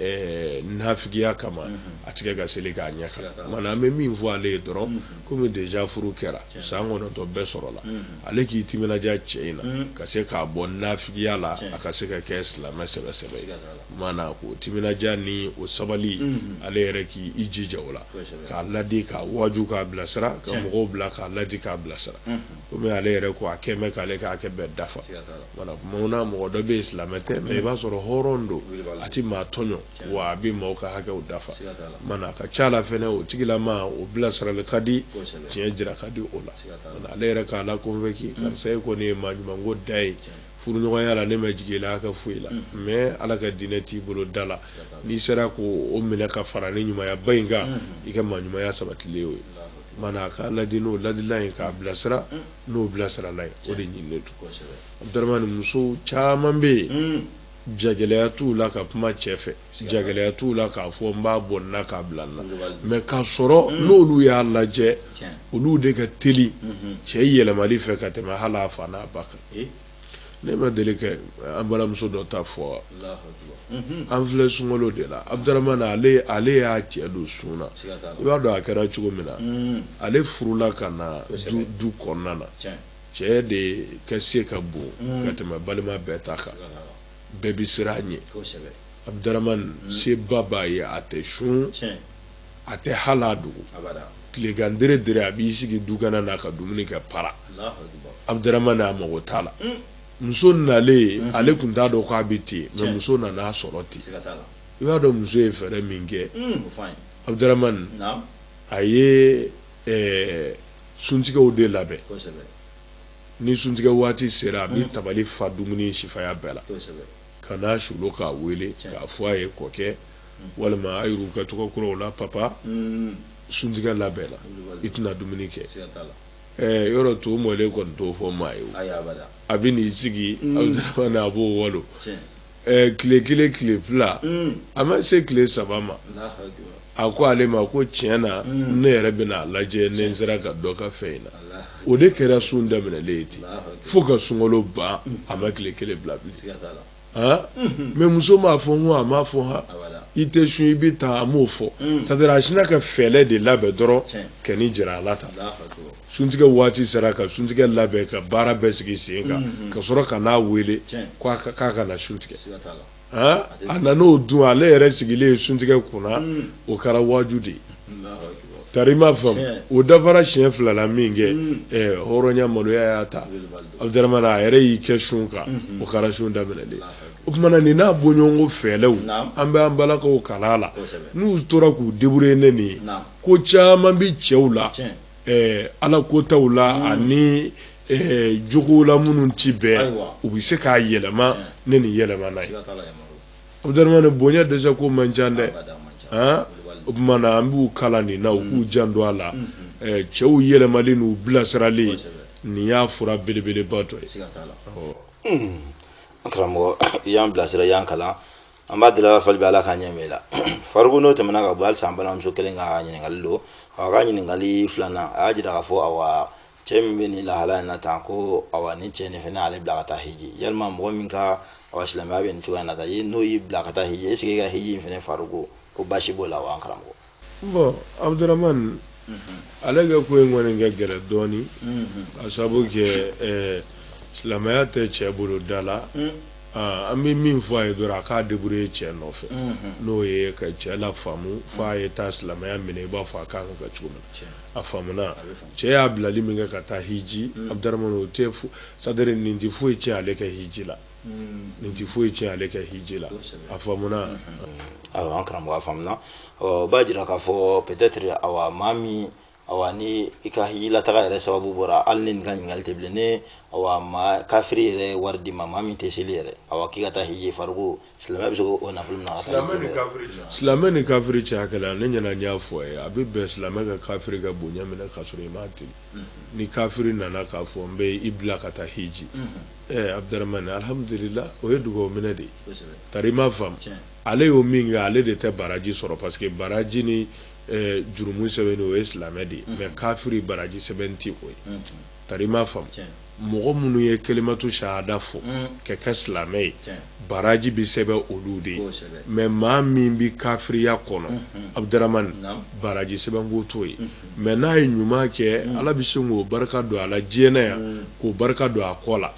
[SPEAKER 3] nafigiya kama a tɛ kɛ ka seli k'a ɲɛ nka an bɛ min fɔ ale ye dɔrɔn kɔmi déjà furu kɛra san kɔnɔntɔn bɛɛ sɔrɔla ale k'i timinaja cɛ in na ka se k'a bɔ nafigiya la a ka se ka kɛ silamɛ sɛbɛsɛbɛ ko timinaja ni o sabali ale yɛrɛ k' i jija o la k'a ladi k'a waju k'a bilasira ka mɔgɔw bila k'a ladi k'a bilasira komi ale yɛrɛ ko a quand même k'ale ka hakɛ bɛɛ dafa mana mɔgɔ dɔ bɛ yen silamɛ tɛ mais i b'a sɔrɔ hɔrɔn don a tɛ maa tɔɲɔ wa a bɛ maaw ka hakɛw dafa mana a ka ca la fɛnɛ o tigilama o bilasirali ka di tiɲɛ jira ka di o la ale yɛrɛ k'a la convaincu karisa e kɔni ye maa ɲuman ko dan ye furuɲɔgɔnya la ne ma jigin i la ka foyi la mais ala ka diinɛ t'i bolo da la n'i sera ko o minɛ ka fara ni ɲumayaba in kan i ka maa ɲumaya sabatilen o ye mana k'a ladi n'o ladila ye k'a bilasira n'o bilasirala ye o de ɲininen don abudurahmani muso caman bɛ yen jagɛlɛya t'u la ka kuma cɛ fɛ jagɛlɛya t'u la k'a fɔ n b'a bɔ n na k'a bila n na mais k'a sɔrɔ n'olu y'a lajɛ olu de ka teli cɛ yɛlɛmali fɛ ka tɛmɛ hali a fa n'a ba kan ne ma deli ka an balimamuso dɔ ta fɔ wa an filɛ sunkalo de la Abdaramani ale y'a cɛ don sun na i b'a dɔn a kɛra cogo min na ale furula ka na du kɔnɔna na cɛ de ka se ka bon ka tɛmɛ balima bɛɛ ta kan. bɛɛ bɛ siran a ɲɛ abudaramani mm. seba b'a ye a tɛ sun a tɛ hali a dogo tilegan dere dere a b'i sigi dukɛnɛ na ka dumuni kɛ para abudaramani a mago t'a la mm. muso nalen mm-hmm. ale tun t'a dɔn k'a bɛ ten mais muso nan'a sɔrɔ ten i b'a dɔn muso ye fɛɛrɛ min kɛ mm, abudaramani a ye eh, suntigɛw de labɛn Ni suntigɛ waati sera a bɛ tabali fa dumuni sifaya bɛɛ la ka na sɔrɔ k'a weele k'a fɔ a ye kɔkɛ walima a y'u ka tɔgɔ kuraw la papa suntigɛ labɛnna i tɛna dumuni kɛ yɔrɔ to mɔlen kɔni t'o fɔ maa ye a bɛ n'i sigi Abdaramani a b'o walo ɛɛ tile kelen tile fila a ma se tile saba ma a ko ale ma ko tiɲɛ na ne yɛrɛ bɛna a lajɛ ni n sera ka dɔ kɛ fɛn in na o de kɛra sun daminɛlen ye ten fo ka sunkalo ban a ma tile kelen bila bilen mais muso m'a fɔ n ko a m'a fɔ h i tɛ sun i bɛ taa a m'o fɔ sa a sina ka fɛɛrɛ de labɛn dɔrɔn ka nin jira ala ta suntigɛ waati sera ka suntigɛ labɛn ka baara bɛɛ sigi sen kan ka sɔrɔ ka n'a weele k'a ka na suntigɛ a nan'o dun ale yɛrɛ sigilen ye suntigɛ kunna o kɛra waju de ye tari ma faamu o dafara siɲɛ fila la min kɛ hɔrɔnya maloya y'a ta a a yɛrɛ y'i kɛ sun kan o kɛra sun daminɛlen o tuma mana nin n'a bɔɲɔgɔnko fɛɛrɛw an bɛ an balakaw kalan a la n'u tora k'u deburuye ni nin ye ko caman bɛ cɛw la ala ko taw la ani jogow la minnu tɛ bɛn u bɛ se k'a yɛlɛma ne ni yɛlɛmana Abudaramani bonya dɛsɛ ko man ca dɛ o tuma an b'u kala nin na u k'u janto a la cɛw yɛlɛmali n'u bilasirali nin y'a fura belebeleba dɔ ye
[SPEAKER 2] karamɔgɔ i y'an bilasira y'an kalan an b'a deli ala fɛ hali bi ala ka ɲɛ la fariku n'o tɛmɛna ka bɔ halisa balimamuso kelen ka ɲininkali don a ka ɲininkali filanan a y'a jira k'a fɔ awa cɛ min bɛ nin lahala in na tan ko awa ni cɛ nin fana ale bila ka taa hiji yalima mɔgɔ min ka awa silamɛya bɛ nin cogoya in na tan n'o y'i bila ka taa hiji est-ce que i ka hiji in fana fariku ko basi b'o la wa an karamɔgɔ Bon
[SPEAKER 3] Abudaramani, unhun, ale ka ko in kɔni ka gɛlɛn dɔɔnin, unhun, ka sababu kɛ ɛ silamɛya tɛ cɛ bolo da la, un, aa an bɛ min fɔ a ye dɔrɔn a k'a débrouiller cɛ nɔfɛ, unhun, n'o ye ka cɛ lafaamu fo a ye taa silamɛya minɛ i b'a fɔ a ka kan ka kɛ cogo min, tiɲɛ, a faamuna, a bɛ faamu, cɛ y'a bilali min kɛ ka taa hiji, Abudaramani o tɛ c'est à dire nin tɛ foyi tiɲɛ ale ka hiji la nin tɛ foyi tiɲɛ ale ka hiji la a faamuna awa
[SPEAKER 2] an karamɔgɔ a faamuna o b'a jira k'a fɔ peut-être awa maa min awa ni i ka hijilataga yɛrɛ sababu bɔra hali ni nin ka ɲininkali tɛ bilen ni awa maa kafiri yɛrɛ ye wari di i ma maa min tɛ seli yɛrɛ awa k'i ka taa hiji fariku silamɛ bɛ se k'o nafolo minɛ ka taa hiji kɛ
[SPEAKER 3] silamɛ ni kafiri cɛ hakɛ la ne ɲɛ na n y'a fɔ a ye a bɛ bɛn silamɛ ka kafiri ka bonya minɛ k'a sɔrɔ i m'a deli ni kafiri nana k'a fɔ n bɛ i bila ka taa hiji Abudaramani alihamdulila o ye dugawu minɛ de tari i m'a faamu ale y'o min kɛ ale de tɛ baraji sɔrɔ parce que baraji ni jurumu sɛbɛnni o ye silamɛ de ye mais kafiri baraji sɛbɛn tɛ o ye tari i m'a faamu mɔgɔ minnu ye kalimatu sahada fɔ ka kɛ silamɛ ye baraji bɛ sɛbɛn olu de ye mais maa min bɛ kafiriya kɔnɔ Abudaramani baraji sɛbɛnko t'o ye Mais n'a ye ɲuman kɛ mm. ala bɛ se k'o barika don a la diɲɛ na yan mm. k'o barika don a kɔ la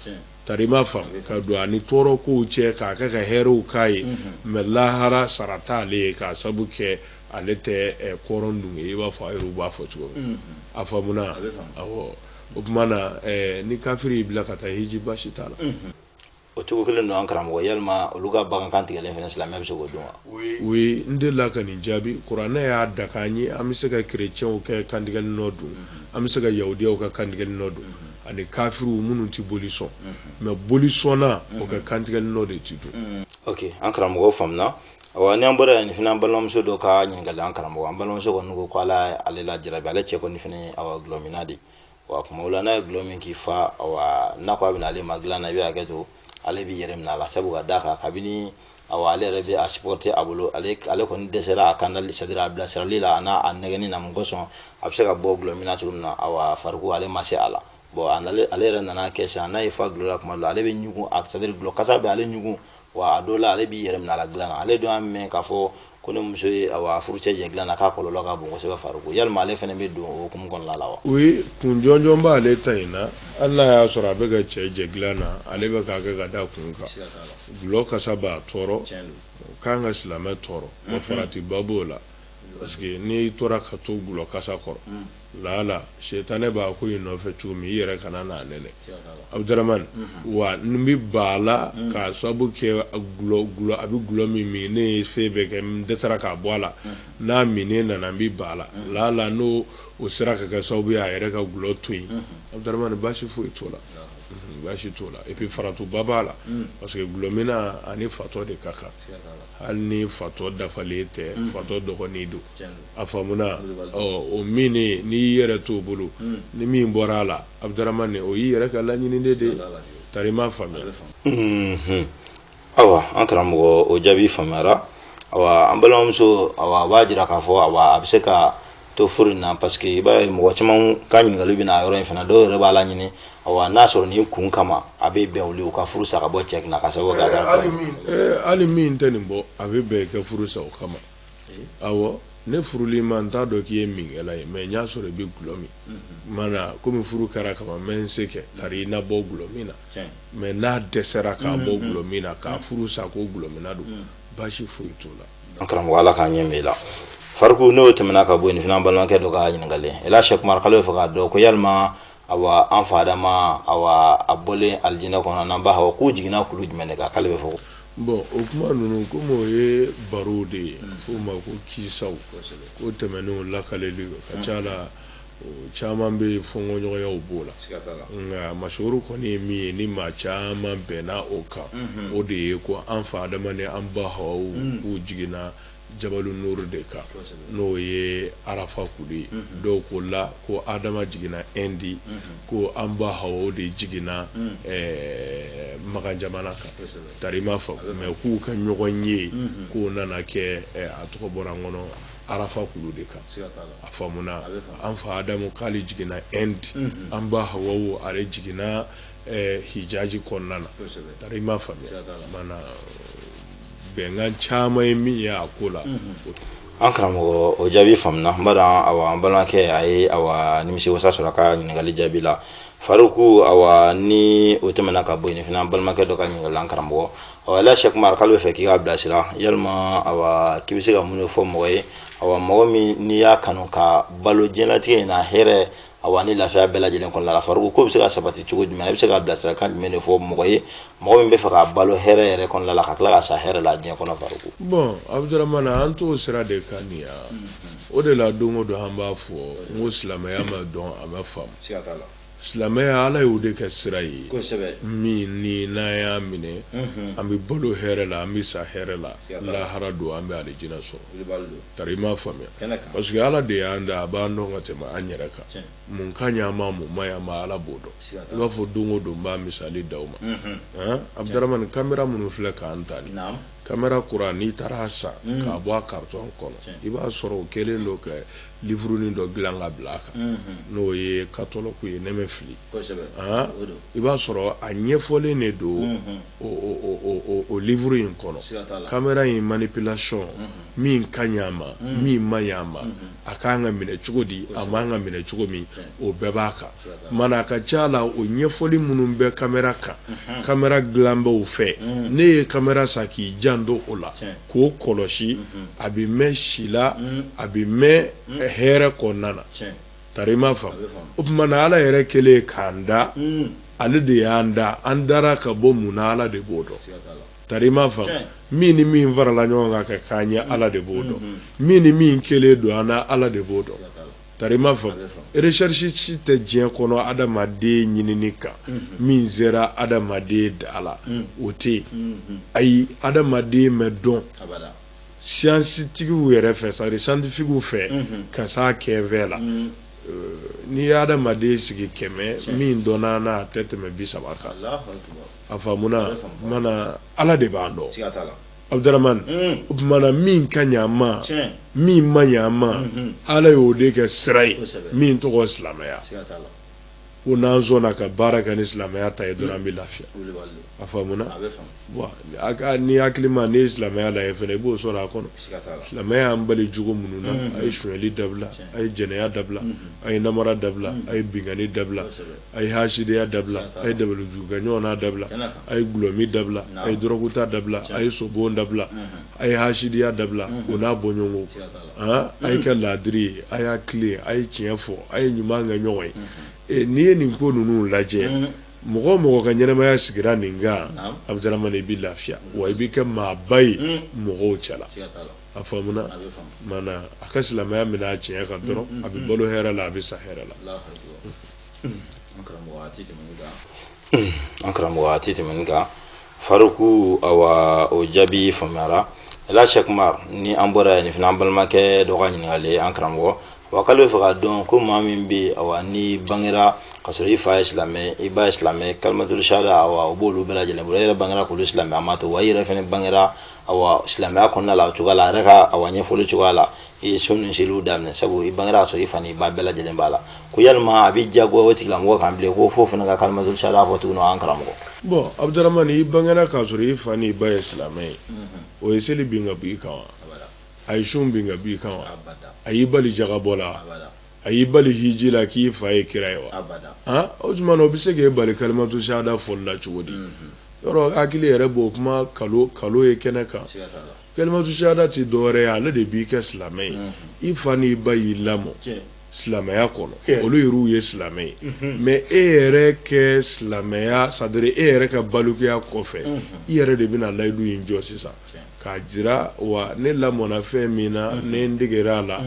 [SPEAKER 3] tari i m'a faamu ka don a ni tɔɔrɔ kow cɛ k'a kɛ ka hɛrɛw k'a ye mm-hmm. mais lahara sara t'ale ye k'a sabu kɛ ale tɛ eh, kɔrɔn dun ye i b'a fɔ a yɛrɛw b'a fɔ cogo min mm-hmm. a faamuna awɔ o tuma na eh, ni kafiri y'i bila ka taa hiji basi t'a la mm-hmm. o
[SPEAKER 2] cogo kelen don an karamɔgɔ yalima olu ka bagan kantigɛlen fana silamɛ bɛ se k'o dun wa oui n
[SPEAKER 3] delila ka nin jaabi kuranɛ y'a daga an ye an bɛ se ka kerecɛnw ka kantigɛli nɔ dun an bɛ se ka yahudiyaw ka kantigɛli nɔ dun ani kafiriw minnu tɛ boli sɔn mais bolisɔnnaw ka kantigɛli nɔ de ti dun ok an
[SPEAKER 2] karamɔgɔ faamuna awa ni an bɔra yan nin fana an balimamuso dɔ ka ɲininkali an karamɔgɔ an balimamuso kɔni ko ko ala ale lajarabi ale cɛ kɔni fana ye awa dɔlɔminna de wa kuma o la n'a ye gulɔ min k'i fa awa n'a ko a bɛ na ale ma dilan na i bɛ hakɛ to ale b'i yɛrɛ minɛ a la sabu ka d'a kan kabini awa ale yɛrɛ bɛ a supporter a bolo ale kɔni dɛsɛra a kandali c'est à dire a bilasirali la an'a nɛgɛnni na mun kosɔn a bɛ se ka bɔ gulɔ min na cogo min na awa fariku ale ma se a la bon ale yɛrɛ nana kɛ sisan n'a y'i fa gulɔ la kuma dɔ la ale bɛ ɲugun a c'est à dire gulɔ kasa bɛ ale ɲugun wa a dɔw la ale b'i yɛrɛ minɛ a la dilan na ale dun y'a mɛn k'a fɔ ko ni muso ye awa a furucɛ jɛ dilan na k'a kɔlɔlɔ ka bon kosɛbɛ fariku yalima ale fɛnɛ bɛ don o hukumu kɔnɔna la wa oui kun jɔnjɔn
[SPEAKER 3] b'ale ta in na hali n'a y'a sɔrɔ a bɛ ka cɛ jɛ dilan na ale bɛ k'a kɛ ka da kun kan gulɔ kasa b'a tɔɔrɔ o ka kan ka silamɛ tɔɔrɔ wa faratiba b'o la parce que n'i tora ka to gulɔ kasa kɔrɔ lala sitanɛ b'a ko in nɔfɛ cogo min i yɛrɛ kana n'a nɛnɛ abdramane wa n bɛ ban a la k'a sababu kɛ a bɛ gulɔ min min ne ye fɛn bɛɛ kɛ n dɛsɛra k'a bɔ a la n'a minnen nana n bɛ ba la la la n'o o sera ka kɛ sababu ye a yɛrɛ ka gulɔ to yen abdramane baasi foyi t'o la baasi t'o la et puis faratiba b'a la parce que gulɔmina ani fatɔ de ka kan hali ni fatɔ dafalen tɛ fatɔ dɔgɔnin don a faamuna o min n'i yɛrɛ t'o bolo ni min bɔra a la abdramane o y'i yɛrɛ ka laɲini de ye tari i m'a faamuya
[SPEAKER 2] ayiwa an
[SPEAKER 3] karamɔgɔ
[SPEAKER 2] o jaabi
[SPEAKER 3] faamuyara
[SPEAKER 2] an balimamuso a b'a jira k'a fɔ awa a bɛ se ka to furu in na parce que i b'a ye mɔgɔ caman ka ɲininkali bɛ na yɔrɔ in fana dɔw yɛrɛ b'a laɲini n'a sɔrɔ nin kun kama a bɛ bɛn u ka furu sa ka bɔ cɛ kun hali min tɛ nin
[SPEAKER 3] bɔ a bɛ bɛn i ka furu sa o kama awɔ ne furuli ma n t'a dɔn k'i ye minkɛla ye mais n y'a sɔrɔ i bɛ gulɔ min mana kɔmi furu kɛra kaban n bɛ n se kɛ tari i na bɔ gulɔ min na mais n'a dɛsɛra k'a bɔ gulɔ min na k'a furu sa ko gulɔmina don baasi foyi t'o la an karamɔgɔ ala k'a
[SPEAKER 2] ɲɛ min la fariku n'o tɛmɛna ka bɔ yen fana balimakɛ dɔ ka ɲininkali sɛki umar k'ale b'a fɛ k'a dɔn ko yalima awa an fa adama awa a bɔlen alijinɛ kɔnɔ n'an ba hawa k'u jiginna kulu jumɛn de kan k'ale bɛ fɔ bon o kuma
[SPEAKER 3] ninnu komi o ye barow de ye f'o ma ko kisaw ko tɛmɛnenw lakalili ka ca la caman bɛ yen fɔnkɔɲɔgɔnyaw b'o la nka masoro kɔni ye min ye ni maa caman bɛnna o kan o de ye ko an fa adama ni an ba hawaw k'u jiginna Jabalu Nuru de kan, kosɛbɛ, n'o ye arafa kulu ye, unhun, dɔw k'o la ko Adama jiginna Inde, unhun, ko an ba Hawa o de jiginna ɛɛ Makan jamana kan, kosɛbɛ, tari i m'a faamu mais k'u ka ɲɔgɔn ye, unhun, k'o nana kɛ a tɔgɔ bɔra n kɔnɔ arafa kulu de kan, siga t'a la, a faamuna, a bɛ faamu, an fa Adamu k'ale jiginna Inde, unhun, an ba Hawawu ale jiginna ɛɛ hijaji kɔnɔna na tari i m'a faamuya maana bɛnkan caman ye min ye a ko la an
[SPEAKER 2] karamɔgɔ o jaabi faamuna n b'a dɔn awa an balimakɛ a ye awa nimisi wasa sɔrɔ a ka ɲininkali jaabi la faruku awa ni o tɛmɛna ka bɔ yen fana an balimakɛ dɔ ka ɲininkali la an karamɔgɔ awa la sɛkumar k'ale bɛ fɛ k'i k'a bilasira yalima awa k'i bɛ se ka mun de fɔ mɔgɔ ye awa mɔgɔ min n'i y'a kanu ka balo diɲɛlatigɛ in na hɛrɛ a wa ni lafiya bɛɛ lajɛlen kɔnɔna la faruku k'o bɛ se ka sabati cogo jumɛn i bɛ se ka bilasirakan jumɛn de fɔ mɔgɔ ye mɔgɔ min bɛ fɛ ka balo hɛrɛ yɛrɛ kɔnɔna la ka tila ka sa hɛrɛ la diɲɛ kɔnɔ faruku bon abudurahmana
[SPEAKER 3] an t'o sira de kan nin ya o de la don o don an b'a fɔ n ko silamɛya ma dɔn a ma faamu silamɛya ala y'o de kɛ sira ye min ni n'an y'a minɛ an bɛ balo hɛrɛ la an bɛ sa hɛrɛ la lahara don an bɛ alijinɛ sɔrɔ Tari i m'a faamuya kɛnɛ kan parce que Ala de y'an da a b'an dɔn ka tɛmɛ an yɛrɛ kan tiɲɛ mun ka ɲi an ma mun ma ɲi an ma Ala b'o dɔn siga t'a la i b'a fɔ don o don n b'a misali d'aw ma unhun han Abudaramani camera minnu filɛ k'an ta nin naamu camera kura n'i taara a san unhun k'a bɔ a carton kɔnɔ tiɲɛ i b'a sɔrɔ o kɛlen don ka livrenin dɔ dilan ka bila a kan unhun n'o ye catalogue ye ne mɛ fili i b'a sɔrɔ a ɲɛfɔlen de don o livre in kɔnɔ camera in manipulation min ka ɲi a ma min ma ɲi a ma a kan ka minɛ cogo di a man ka minɛ cogo min o bɛɛ b'a kan mana a ka ca la o ɲɛfɔli minnu bɛ camera kan camera dilanbaw fɛ n'e ye camera san k'i janto o la k'o kɔlɔsi a bɛ mɛn si la a bɛ mɛn hɛrɛ kɔnɔna na Tari i m'a faamu, a bɛ faamu, o tuma na Ala yɛrɛ kɛlen k'an da, un, ale de y'an da, an dara ka bɔ mun na Ala de b'o dɔn, siga t'a la, tari i m'a faamu, tiɲɛ, min ni min farala ɲɔgɔn kan ka k'an ye Ala de b'o dɔn, unhun, min ni min kɛlen don an na Ala de b'o dɔn, siga t'a la, tari i m'a faamu, a bɛ faamu, recherche si tɛ diɲɛ kɔnɔ adamaden ɲinini kan, unhun, min sera adamaden da la, un, o tɛ yen, unhun, ayi adamaden mɛ dɔn, abada. science-tigiw yɛrɛ fɛ c'est à dire scientifiques fɛ ka s'a kɛfɛ la n'i ye adamaden sigi kɛmɛ min dɔnna n'a tɛ tɛmɛ bi saba kan a faamuna mana ala de b'an dɔn abudramani o tuma na min ka ɲi an ma min ma ɲi an ma ala y'o de kɛ sira ye min tɔgɔ silamɛya ko n'an sɔnna ka baara kɛ ni silamɛya ta ye dɔrɔn an bɛ lafiya a faamuna ni hakilima n'i ye silamɛya lajɛ fana i b'o sɔrɔ a kɔnɔ silamɛya y'an bali jogo minnu na a ye sonyali dabila a ye jɛnɛya dabila a ye namara dabila a ye binkanni dabila a ye hasidiya dabila a ye dabalijugukɛ ɲɔgɔn na dabila a ye dulɔmin dabila a ye dɔrɔguta dabila a ye sobon dabila a ye hasidiya dabila o n'a bɔɲɔgɔnko A ye kɛ laadiri ye a y'a tilen a ye tiɲɛ fɔ a ye ɲuman kɛ ɲɔgɔn ye n'i ye nin ko ninnu lajɛ mɔgɔ o mɔgɔ ka ɲɛnamaya sigira nin kan abudramani i bɛ lafiya wa i bɛ kɛ maaba ye mɔgɔw cɛ la a faamuna mana a ka silamɛya minɛ a tiɲɛ kan dɔrɔn a bɛ balo hɛrɛ la a bɛ sa hɛrɛ la
[SPEAKER 2] an karamɔgɔ a tɛ tɛmɛ nin kan Faruku awa o jaabi faamuyara e la Sɛk Umar ni an bɔra yan nin fana an balimakɛ dɔ ka ɲininkali ye an karamɔgɔ wa k'ale bɛ fɛ k'a dɔn ko maa min bɛ yen awa n'i bangera k'a sɔrɔ i fa ye silamɛ ye i ba ye silamɛ ye kalimatul sahada awa o b'olu bɛɛ lajɛlen bolo e yɛrɛ bangera k'olu silamɛyama to wa i yɛrɛ fana bangera awa silamɛya kɔnɔna la o cogoya la a yɛrɛ ka awa ɲɛfɔli cogoya la i ye sun ni seliw daminɛ sabu i bangera k'a sɔrɔ i fa n'i ba bɛɛ lajɛlen b'a la ko yalima a bɛ diyagoya o tigilamɔgɔ kan bilen ko f'o fana ka kalimatul sahada fɔ tuguni an karamɔgɔ bɔn abudurahman
[SPEAKER 3] i bangera k'a sɔrɔ i fa n'i ba ye silamɛ ye o ye seli bin ka bɔ i kan wa a ye sun bin ka bɔ i kan wa a y'i bali jagabɔ la a y'i bali hiji la k'i fa ye kira ye wa han o tuma na o bɛ se k'e bali kalimatul sahada fɔli la cogo di yɔrɔ hakili yɛrɛ b'o kuma nkalon ye kɛnɛ kan Kalimatul sahada tɛ dɔwɛrɛ ye ale de b'i kɛ silamɛ ye i fa ni i ba y'i lamɔ silamɛya kɔnɔ olu yɛrɛw ye silamɛ ye mɛ e yɛrɛ ka silamɛya c'est-à-dire e yɛrɛ ka balikuya kɔfɛ i yɛrɛ de bɛna layidu in jɔ sisan k'a jira wa ne lamɔnna fɛn min na ne n degera a la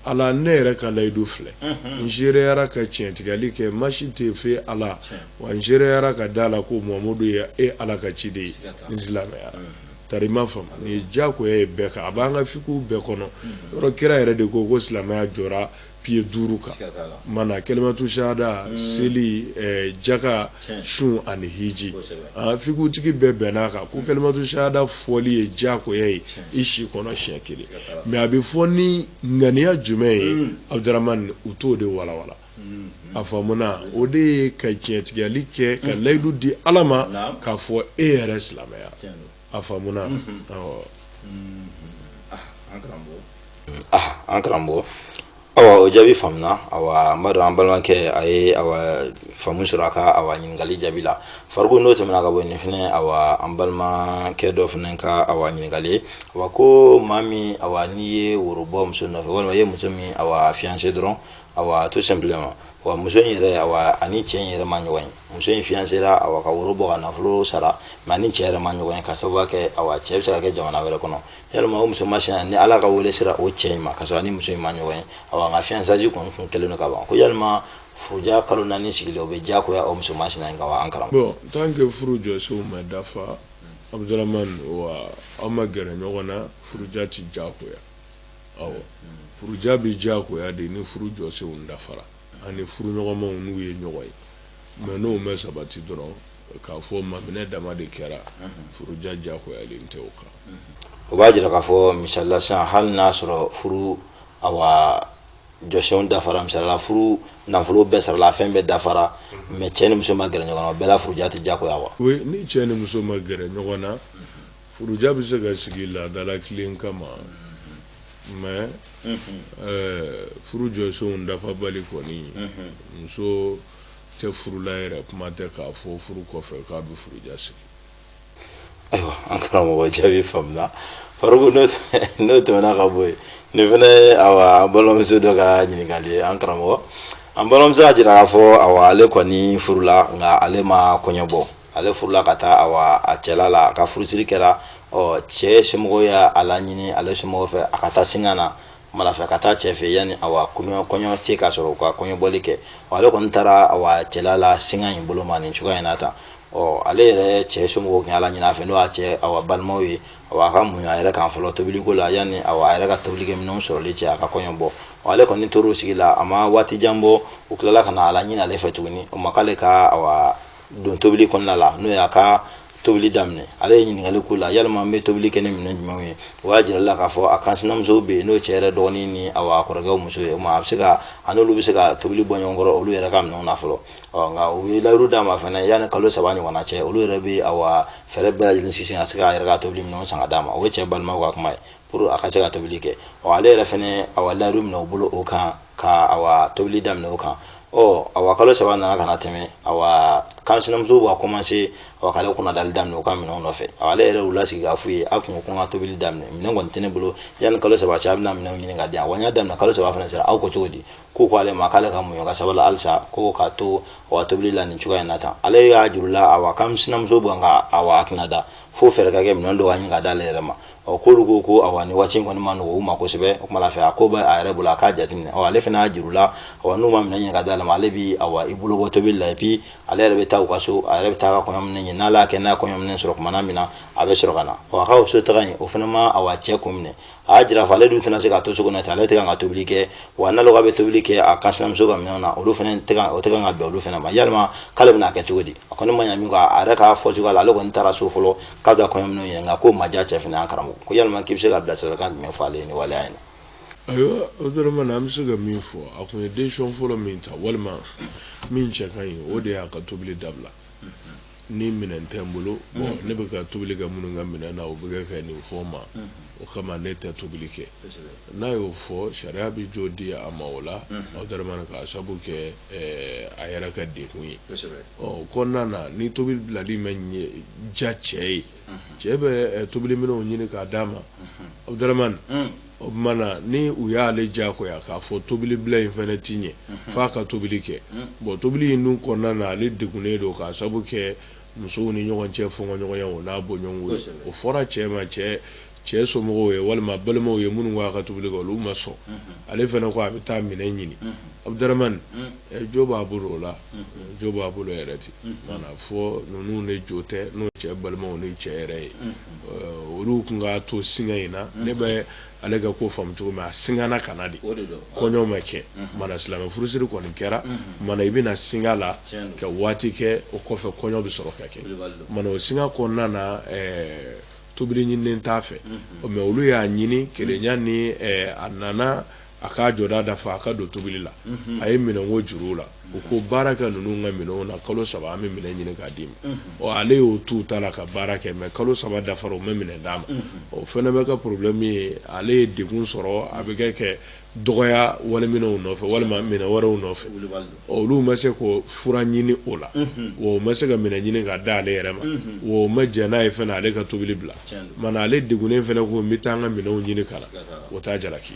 [SPEAKER 3] ala ne yɛrɛ ka layidu filɛ n seereyara ka tiɲɛtigiyali kɛ ma si tɛ fo ala wa n seereyara ka da a la ko muhamadu ye e ala ka ciden ye n silamɛyara Tari i m'a faamu nin ye diyagoya ye bɛɛ kan a b'an ka fikuw bɛɛ kɔnɔ yɔrɔ kira yɛrɛ de ko ko silamɛya jɔra piye duuru kan mana kelimatu sahada mm. seli eh, jaka sun ani hiji ah, fikutigi bɛɛ bɛnna a kan ko mm. kelimatu sahada fɔli ye diyagoya ye i si kɔnɔ siɲɛ kelen mɛ a bɛ fɔ ni ŋaniya jumɛn ye mm. abudramani u t'o de walawala a faamuna o de ye ka tiɲɛtigiyali kɛ ka layidu di ala ma k'a fɔ e yɛrɛ silamɛya a
[SPEAKER 2] faamuna an karamɔgɔ awa o jaabi faamuna awa n b'a dɔn an balimakɛ a ye awa faamu sɔrɔ a ka awa ɲininkali jaabi la Faruku n'o tɛmɛna ka bɔ nin fana an balimakɛ dɔ fana ka awa ɲininkali ye awa ko maa min awa n'i ye woro bɔ muso nɔfɛ walima i ye muso min awa fiyanse dɔrɔn awa tout simplement wa muso in yɛrɛ awa ani cɛ in yɛrɛ ma ɲɔgɔn ye muso in fiyansera awa ka woro bɔ ka nafolo sara mɛ a ni cɛ yɛrɛ ma ɲɔgɔn ye ka sababu kɛ awa cɛ bɛ se ka kɛ jamana wɛrɛ kɔnɔ yalima o muso masina ni ala ka wele sera o cɛ in ma k'a sɔrɔ a ni muso in ma ɲɔgɔn ye awa nka fiyansazi kɔni kun kɛlen don ka ban ko yalima furuja kalo naani sigilen o bɛ diyagoya o muso masina in kan wa an karamɔgɔ bon tant que furu
[SPEAKER 3] jɔsenw ma dafa abudurahman wa aw ma gɛrɛ ɲɔgɔn na furuja tɛ diyagoya furuja bɛ diyagoya de ni furu jɔsenw dafara ani furu ɲɔgɔnmaw n'u ye ɲɔgɔn ye mais n'o ma sabati dɔrɔn k'a fɔ maminɛ dama de kɛra furuja diyagoyalen tɛ o kan o b'a jira
[SPEAKER 2] k'a fɔ misali la hali n'a sɔrɔ furu jɔsenw dafara misali la furu nafolo bɛɛ sarala a fɛn bɛɛ dafara mais cɛ ni muso ma gɛrɛ ɲɔgɔn na o bɛɛ la furuja tɛ diyagoya wa ni cɛ ni muso
[SPEAKER 3] ma gɛrɛ ɲɔgɔn na furuja bɛ se ka sigi laada latilen kama mais eh, furu jɔsenw dafabali kɔni muso tɛ furula yɛrɛ kuma tɛ k'a fɔ furu kɔfɛ k'a bɛ furuja sigi
[SPEAKER 2] ayiwa an karamɔgɔ jaabi faamuna faruku n'o tɛmɛna ka bɔ yen nin fana ye awa an balimamuso dɔ ka ɲininkali ye an karamɔgɔ an balimamuso y'a jira k'a fɔ awa ale kɔni furula nka ale ma kɔɲɔ bɔ ale furula ka taa awa a cɛla la a ka furusiri kɛra ɔ cɛ somɔgɔw y'a laɲini ale somɔgɔw fɛ a ka taa singa na malafɛ ka taa cɛ fɛ yanni awa kɔɲɔ kɔɲɔ se ka sɔrɔ u ka kɔɲɔbɔli kɛ ɔ ale kɔni taara awa cɛla la singa in bolo ma nin cogoya in na tan ɔ ale yɛrɛ cɛ somɔgɔw tun y'a laɲini a fɛ n'o y'a cɛ awa balimaw ye awa a ka muɲu a yɛrɛ kan fɔlɔ tobiliko la yanni awa a yɛrɛ ka tobilikɛminɛnw sɔrɔli cɛ a ka kɔɲɔ bɔ ɔ ale kɔni tor'o sigi la a ma waati jan bɔ u tilala ka na a laɲini ale fɛ tuguni o ma k'ale ka awa don tobili kɔnɔna la n'o y'a ka tobili daminɛ ale ye ɲininkali k'u la yalima n bɛ tobili kɛ ni minɛn jumɛnw ye u y'a jira a la k'a fɔ a kansinamusow bɛ yen n'o cɛ yɛrɛ dɔgɔnin ni a kɔrɔkɛw muso ye o ma a bɛ se ka a n'olu bɛ se ka tobili bɔ ɲɔgɔn kɔrɔ olu yɛrɛ ka minɛnw na fɔlɔ nka u ye layiru d'a ma fana yanni kalo saba ɲɔgɔnna cɛ olu yɛrɛ bɛ a fɛɛrɛ bɛɛ lajɛlen sigi ka se k'a yɛrɛ ka tobili minɛnw san ka d'a ma o ye cɛ balimaw ka kuma ye pour a ka se ka tobili kɛ ɔ ale yɛrɛ fɛnɛ awa layidu minɛ u bolo o kan ka awa tobili daminɛ o kan ɔ awa kalo saba nana ka na tɛmɛ awa kansinamusow b'a kɔmanse awa k'ale kunnadali daminɛ u ka minɛnw nɔfɛ awa ale yɛrɛ y'u lasigi k'a f'u ye a kun ko n ka tobili daminɛ minɛn kɔni tɛ ne bolo yanni kalo saba cɛ a bɛna minɛnw ɲini ka di yan wa n y'a daminɛ kalo saba fana sera aw ko cogo di k'u ko ale ma k'ale ka muɲu ka sabali halisa ko k'a to awa tobili la nin cogoya in na tan ale y'a jira u la awa kansinamusow bɛ ka awa ale kunnada fo fɛɛrɛ ka kɛ minɛn dɔ ka ɲini ka d'ale yɛrɛ ma ɔ k'olu ko ko awa nin waati kɔni man nɔgɔn u ma kosɛbɛ o kuma la fɛ a ko bɛ a yɛrɛ bolo a k'a jateminɛ ɔ ale fana y'a jira u la awa n'u ma minɛn ɲini ka d'a ma ale bi awa i bolo bɔ tobili la et puis ale yɛrɛ bɛ taa u ka so a yɛrɛ bɛ taa a ka kɔɲɔminɛn ɲini n'ale y'a kɛ n'a ye kɔɲɔminɛn sɔrɔ kumana min na a bɛ sɔrɔ ka na ɔ a ka o so taga in o fana ma awa cɛ kun minɛ a y'a jira fɔ ale dun tɛna se ka to so kɔnɔ ten ale tɛ kan ka tobili kɛ wa n'ale k'a bɛ tobili kɛ a kansinamuso ka minɛnw na olu fana tɛ kan o tɛ kan ka bɛn olu fana ma yalima k'ale bɛna kɛ cogo di a kɔni ma ɲa min kɔ a yɛrɛ k'a fɔ cogoya la ale kɔni taara so fɔlɔ ka taa kɔɲɔminɛnw ɲini nka k'o ma diya cɛ fana an karamɔgɔ ko yalima k'i bɛ se ka bilasiralikan jumɛn fɔ ale ye nin waleya in na ayiwa o
[SPEAKER 3] dɔrɔn na an bɛ se ka min fɔ a tun ye décision fɔlɔ min ta walima min cɛ ka ɲi o de y'a ka tobili dabila ni minɛn tɛ n bolo ne bɛ ka tobili kɛ minnu ka minɛn na o bɛ kɛ ka nin fɔ n ma o kama ne tɛ tobili kɛ n'a y'o fɔ sariya bɛ jo di a ma o la abudurahmani ka sabu kɛ a yɛrɛ ka degun ye o kɔnɔna na ni tobili bilali ma diya cɛ ye cɛ bɛ tobili minɛnw ɲini k'a d'a ma abudurahmani o mana ni u y'ale diyagoya k'a fɔ tobili bila in fana ti ɲɛ f'a ka tobili kɛ bon tobili in dun kɔnɔna na ale degunnen don ka sabu kɛ musow ni ɲɔgɔn cɛ fɔɲɔgɔnya o n'a bɔɲɔgɔnko ye o fɔra cɛ ma cɛ cɛ somɔgɔw ye walima balimaw ye minnu k'a ka tobili kɛ olu ma sɔn ale fana ko a bɛ taa minɛn ɲini abudurahmani jo b'a bolo o la jo b'a bolo yɛrɛ ten mana fɔ ninnu de jo tɛ n'o cɛ balimaw ni cɛ yɛrɛ ye olu tun k'a to singa in na ne bɛ ale ka ko faamu cogo min a singana ka na de, o de don, kɔɲɔ ma kɛ, unhun, mana silamɛ furusiri kɔni kɛra, unhun, mana i bɛna singa la, tiɲɛ don, ka waati kɛ o kɔfɛ kɔɲɔ bɛ sɔrɔ ka kɛ, Kulibali don, mana o singa kɔnɔna na ɛɛ tobili ɲininen t'a fɛ, unhun, mais olu y'a ɲini kelenya ni ɛɛ a nana a k'a jɔda dafa a ka don tobili la, unhun, a ye minɛnko juru u la. u ko baara kɛ ninnu ka minɛnw na kalo saba an bɛ minɛn ɲini k'a d'i ma ɔ ale y'o tu ta la ka baara kɛ mais kalo saba dafara u ma minɛn d'a ma o fana bɛ ka problème ye ale ye degun sɔrɔ a bɛ kɛ kɛ dɔgɔya waliminɛnw nɔfɛ walima minɛn wɛrɛw nɔfɛ olu ma se ka fura ɲini o la o ma se ka minɛn ɲini k'a d'ale yɛrɛ ma o ma jɛn n'a ye fana ale ka tobili bila mana ale degunnen fana ko n bɛ taa an ka minɛnw ɲini ka na o t'a jalaki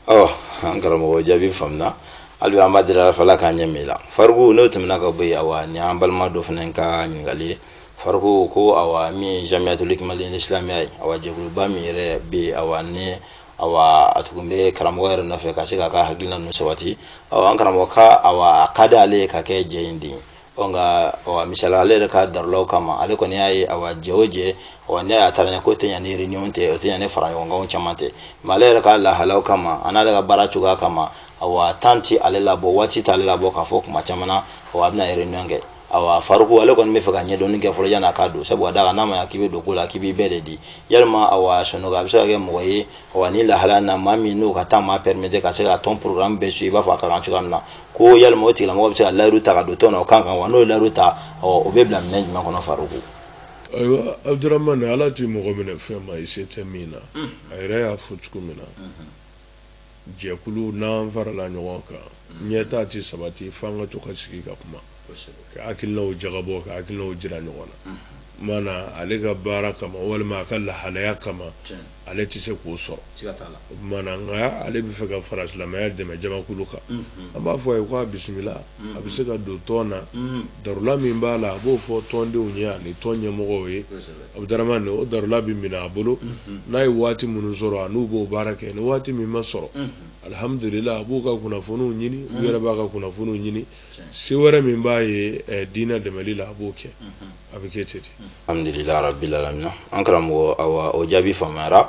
[SPEAKER 2] ɔ an karamɔgɔ jaabi faamuna hali bi an b'a deli ala fɛ ala k'an ɲɛ min la faruku n'o tɛmɛna ka bɔ yen awa ni an balima dɔ fana ka ɲininkali ye faruku ko awa min ye jamiyatul hikima al islamiya ye awa jɛkuluba min yɛrɛ bɛ yen awa ni awa a tun bɛ karamɔgɔ yɛrɛ nɔfɛ ka se k'a ka hakilina ninnu sabati awa an karamɔgɔ ka awa a ka di ale ye ka kɛ jɛ in den ye ɔ nka ɔ misali ale yɛrɛ ka darulaw kama ale kɔni y'a ye awa jɛ o jɛ ɔ ne y'a taara ɲɛ ko tɛ ɲa ni réunion tɛ o tɛ ɲa ni faraɲɔgɔnkanw caman tɛ mais ale yɛrɛ ka lahalaw kama a n'ale ka baara cogoya kama awa temps ti ale labɔ waati t'ale labɔ k'a fɔ tuma caman na ɔ a bɛna réunion kɛ awa faruku ale kɔni bɛ fɛ ka ɲɛdɔnni kɛ fɔlɔ yan'a ka don sabu ka da kan n'a ma ɲa k'i bɛ don ko la k'i b'i bɛɛ de di yalima awa sanogo a bɛ se ka kɛ mɔgɔ ye awa ni lahalaya na maa min n'o ka temps m'a permettre ka se ka tɔn programme bɛɛ suivre i b'a fɔ a ka kan cogoya min na ko yalima o tigilamɔgɔ bɛ se ka layiru ta ka don tɔn na o ka kan wa n'o ye layiru ta o bɛ bila minɛ jumɛn kɔnɔ faruku ayiwa
[SPEAKER 3] abudurahmani ala tɛ mɔgɔ minɛ fɛn ma i se tɛ min na a yɛrɛ y'a fɔ cogo min na jɛkulu n'an farala ɲɔgɔn kan ɲɛtaa tɛ sabati f'an ka to ka sigi ka kuma ka hakilinaw jagabɔ ka hakilinaw jira ɲɔgɔn na maana ale ka baara kama walima a ka lahalaya kama ale tɛ se k'o sɔrɔ maana nka ale bɛ fɛ ka fara silamɛya dɛmɛ jamakulu kan an b'a fɔ a ye k'a bisimila a bɛ se ka don tɔn na darula min b'a la a b'o fɔ tɔndenw ye ani tɔn ɲɛmɔgɔw ye abudurahmani o darula bɛ minɛ a bolo n'a ye waati minnu sɔrɔ a n'u b'o baara kɛ ni waati min ma sɔrɔ alihamdulila a b'u ka kunnafoniw ɲini u yɛrɛ b'a ka kunnafoniw ɲini se wɛrɛ min b'a ye eh, diinɛ dɛmɛli la a b'o kɛ a bɛ kɛ ten alhamdulila rabbil
[SPEAKER 2] alamin an karamɔgɔ awa o jaabi faamuyara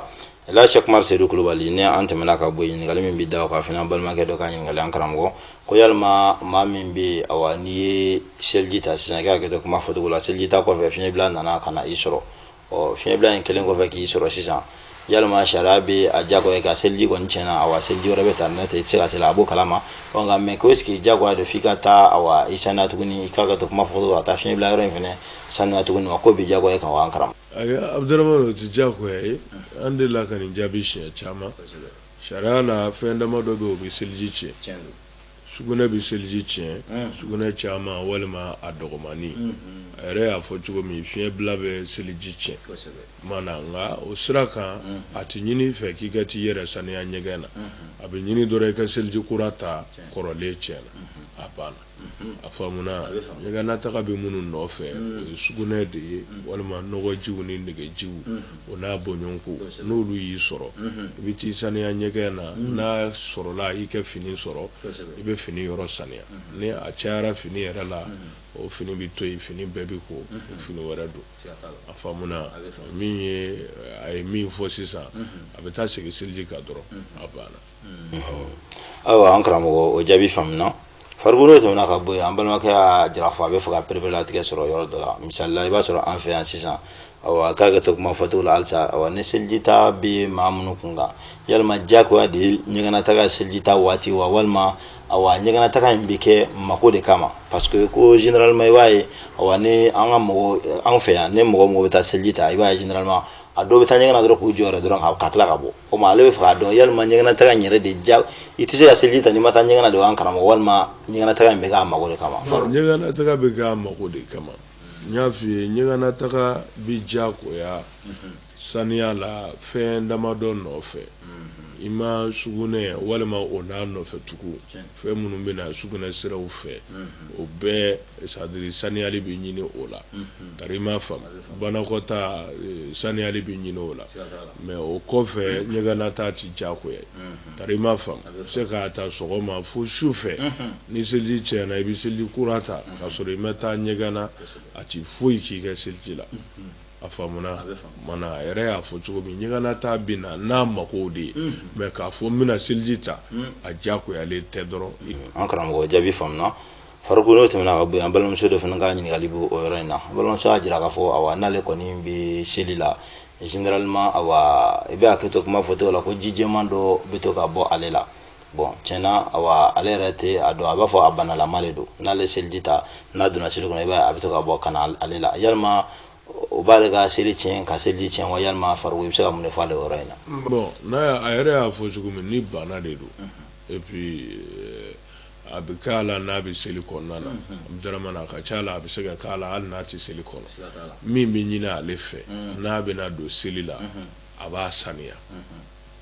[SPEAKER 2] la Cheikh Umar Seydou Kulubali ni an tɛmɛna ka bɔ yen ɲininkali min bɛ da o kan fɛnɛ an balimakɛ dɔ ka ɲininkali an karamɔgɔ ko yalima maa min bɛ awa n'i ye seliji ta sisan i ka hakɛto kuma fɔcogo la seliji ta kɔfɛ fiɲɛbila nana ka na i sɔrɔ ɔ fiɲɛbila in kɛlen kɔfɛ k'i sɔrɔ sisan yalima sariya bɛ a jagoya ka seliji kɔni tiɲɛna awa seliji wɛrɛ bɛ ta n'o tɛ i tɛ se ka seli a b'o kalama ɔ nka mais ko est-ce que jagoya don f'i ka taa awa i sanuya tuguni i ka hakɛto kuma fɔcogo ka taa fiɲɛbila yɔrɔ in fana sanuya tuguni wa k'o bɛ jagoya kan wa an karamɔgɔ ayi abudurahmani o
[SPEAKER 3] tɛ jagoya ye an delila ka nin jaabi siɲɛ caman sariya la fɛn dama dɔ bɛ yen o bɛ seliji tiɲɛ sugunɛ bɛ seliji tiɲɛ sugunɛ caman walima a dɔgɔmani a yɛrɛ y'a fɔ cogo min fiɲɛbila bɛ seliji tiɲɛ maana nka o sira kan a tɛ ɲini i fɛ k'i ka t'i yɛrɛ saniya ɲɛgɛn na a bɛ ɲini dɔrɔn i ka seliji kura ta kɔrɔlen tiɲɛna a banna a faamuna ɲɛgɛnna taga bɛ minnu nɔfɛ o ye sugunɛ de ye walima nɔgɔjiw ni negejiw o n'a bɔɲɔgɔnko n'olu y'i sɔrɔ i bɛ t'i saniya ɲɛgɛn na n'a sɔrɔla i ka fini sɔrɔ i bɛ fini yɔrɔ saniya ni a cayara fini yɛrɛ la o fini bɛ to yen fini bɛɛ bɛ ko fini wɛrɛ don a faamuna min ye a ye min fɔ sisan a bɛ taa segin seliji kan dɔrɔn a banna
[SPEAKER 2] ayiwa an karamɔgɔ o jaabi faamuna farikolo tɛmɛna ka bɔ yen an balimakɛ y'a jira fɔ a bɛ fɛ ka pereperelatigɛ sɔrɔ yɔrɔ dɔ la misali la i b'a sɔrɔ an fɛ yan sisan awa ka hakɛto kuma fɔcogo la halisa awa ni selijita bɛ maa minnu kun kan yalima diyagoya de ye ɲɛgɛnnataga selijita waati wa walima awa ɲɛgɛnnataga in bɛ kɛ mako de kama parce que ko généralement i b'a ye awa ni an ka mɔgɔ anw fɛ yan ni mɔgɔ mɔgɔ bɛ taa seliji ta i b'a ye généralement a dɔw bɛ taa ɲɛgɛn na dɔrɔn k'u jɔ yɛrɛ dɔrɔn ka tila ka bɔ o ma ale bɛ fɛ k'a dɔn yalima ɲɛgɛnataga in yɛrɛ déjà i tɛ se ka seliji ta n'i ma taa ɲɛgɛn na de wa an karamɔgɔ walima ɲɛgɛnataga in bɛ k'a mago de kama ɲɛgɛnataga bɛ
[SPEAKER 3] k'a mago de kama n y'a f'i ye ɲɛgɛnataga bɛ diyagoya saniya la fɛn damadɔ nɔfɛ i ma sugunɛ walima o n'a nɔfɛ tugun fɛn minnu bɛ na sugunɛ siraw fɛ o bɛɛ c'est-à-dire saniyali bɛ ɲinin o la tari i m'a faamu banakɔta saniyali bɛ ɲinin o la mais o kɔfɛ ɲɛgɛnna taa tɛ diyagoya tari i m'a faamu i bɛ se k'a ta sɔgɔma fo su fɛ ni seliji cɛnna i bɛ seliji kura ta k'a sɔrɔ i ma taa ɲɛgɛn na a tɛ foyi k'i ka seliji la a faamuna a yɛrɛ y'a fɔ cogo min ɲɛgɛnna taa bɛ na n'a mako de ye mais k'a fɔ n bɛna seliji ta a diyagoyalen tɛ dɔrɔn an karamɔgɔ jaabi
[SPEAKER 2] faamuna Faruku n'o tɛmɛna ka bɔ yen an balimamuso dɔ fana ka ɲininkali bɛ o yɔrɔ in na balimamuso y'a jira k'a fɔ awa n'ale kɔni bɛ seli la généralement awa i bɛ hakɛ to kuma fɔcogo la ko ji jɛman dɔ bɛ to ka bɔ ale la bon tiɲɛ na awa ale yɛrɛ tɛ a dɔn a b'a fɔ a banalama de don n'ale seliji ta n'a donna seli kɔnɔ i b'a ye a bɛ to ka bɔ ka na ale la yalima o b'ale ka seli tiɲɛ ka seliji tiɲɛ wa yalima Faruku i bɛ se ka mun de fɔ ale yɔrɔ in na. bon n'a a
[SPEAKER 3] yɛrɛ y'a fɔ cogo min ni bana de don et puis euh, A bɛ k'a la n'a bɛ seli kɔnɔna na abudurahmani a ka ca la a bɛ se ka k'a la hali n'a tɛ seli kɔnɔ min bɛ ɲinin ale fɛ n'a bɛna don seli la a b'a saniya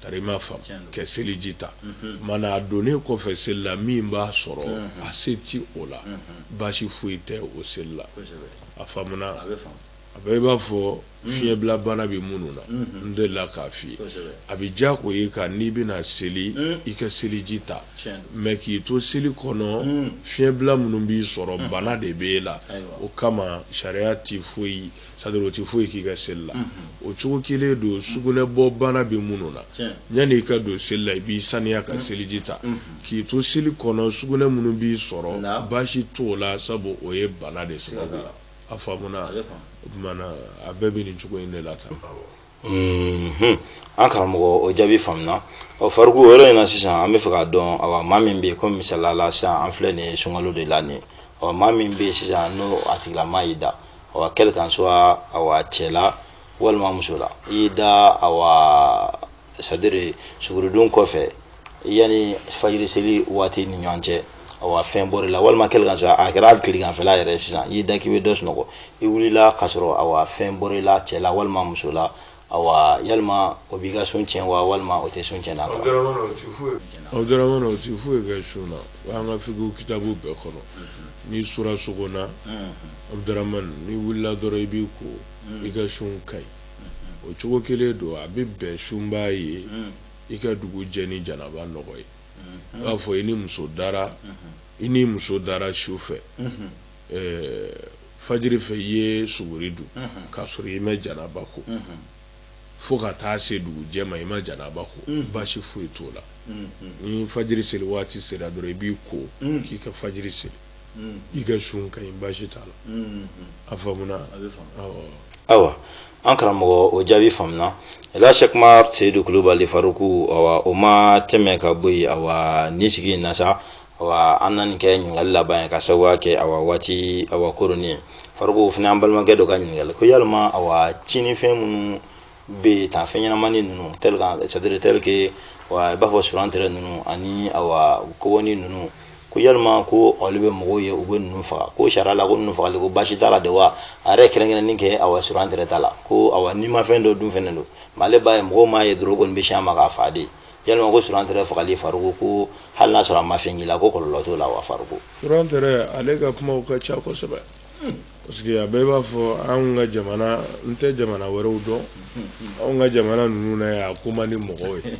[SPEAKER 3] tari i m'a faamu ka seliji ta mana a donnen kɔfɛ seli la min b'a sɔrɔ a se tɛ o la baasi foyi tɛ o seli la a faamuna A bɛ i b'a fɔ fiɲɛbila bana bɛ minnu na n delila k'a f'i ye a bɛ diyagoya i kan n'i bɛna seli i ka seliji ta mais k'i to seli kɔnɔ fiɲɛbila minnu b'i sɔrɔ bana de bɛ e la o kama sariya tɛ foyi c'est-à-dire o tɛ foyi k'i ka seli la o cogo kelen don sugunɛ bɔ bana bɛ minnu na yani i ka don seli la i b'i saniya ka seliji ta k'i to seli kɔnɔ sugunɛ minnu b'i sɔrɔ baasi t'o la sabu o ye bana de sababu la A faamuna a bɛɛ bɛ nin cogo in de la
[SPEAKER 2] tan an karamɔgɔ o jaabi faamuna ɔ Faruku yɔrɔ in na sisan an bɛ fɛ k'a dɔn awa maa min bɛ yen komi misali la sisan an filɛ nin sunkalo de la nin ɔ maa min bɛ yen sisan n'o a tigilama y'i da awa quel qu'en soit awa cɛ la walima muso la i y'i da awa c'est-à-dire suguri dun kɔfɛ yani fajiri seli waati ni ɲɔgɔn cɛ awa fɛn bɔr'i la walima quel qu'en soit a kɛra hali tileganfɛla yɛrɛ sisan i y'i da k'i bɛ dɔ sunɔgɔ i wulila k'a sɔrɔ awa fɛn bɔr'i la cɛ la walima muso la awa yalima o b'i ka sun tiɲɛ wa walima o tɛ sun tiɲɛ na abudurahmani o tɛ foyi
[SPEAKER 3] abudurahmani o tɛ foyi kɛ sun na o b'an ka fikihi kitabu bɛɛ kɔnɔ n'i sura sogo na abudurahmani n'i wulila dɔrɔn i b'i ko i ka sun ka ɲi o cogo kelen don a bɛ bɛn sunbaa ye i ka dugu jɛ ni janaba nɔgɔ ye i b'a fɔ i ni muso dara i ni muso dara su fɛ fajiri fɛ i ye suguri dun k'a sɔrɔ i ma janaba ko fo ka taa se dugu jɛ ma i ma janaba ko baasi foyi t'o la ni fajiri seli waati sera dɔrɔn i b'i ko k'i ka fajiri seli i ka sun ka ɲi baasi t'a la a
[SPEAKER 2] faamuna awa an karamɔgɔ o jaabi faamuna la sɛku umaru seyidu kulubali faruku awa o ma tɛmɛ ka bɔ yen awa nin sigi in na sa awa an na nin kɛ ɲininkali laban ye ka sababuya kɛ awa waati awa koronin ye faruku fana an balimakɛ dɔ ka ɲininkali ko yalima awa tiɲɛnifɛn minnu bɛ yen tan fɛn ɲɛnamani ninnu tel que c'est-à-dire tel que wa i b'a fɔ surantɛrɛ ninnu ani awa kɔbɔni ninnu ko yalima ko olu bɛ mɔgɔw ye u bɛ ninnu faga ko sariya la ko ninnu fagali ko baasi t'a la de wa a yɛrɛ kɛrɛnkɛrɛnni kɛ awa surantɛrɛ ta la ko awa nimafɛn dɔ dun fɛnɛ don mais ale b'a ye mɔgɔw m'a ye dɔrɔn kɔni bɛ sin a ma k'a faga de yalima ko surantɛrɛ fagali faruku ko hali n'a sɔrɔ a ma fɛn k'i la ko kɔlɔlɔ t'o la wa faruku surantɛrɛ ale
[SPEAKER 3] ka kumaw ka ca kosɛbɛ hmm. Parce que a bɛɛ b'a fɔ anw ka jamana n tɛ jamana wɛrɛw dɔn anw ka jamana ninnu na yan a ko man di mɔgɔw ye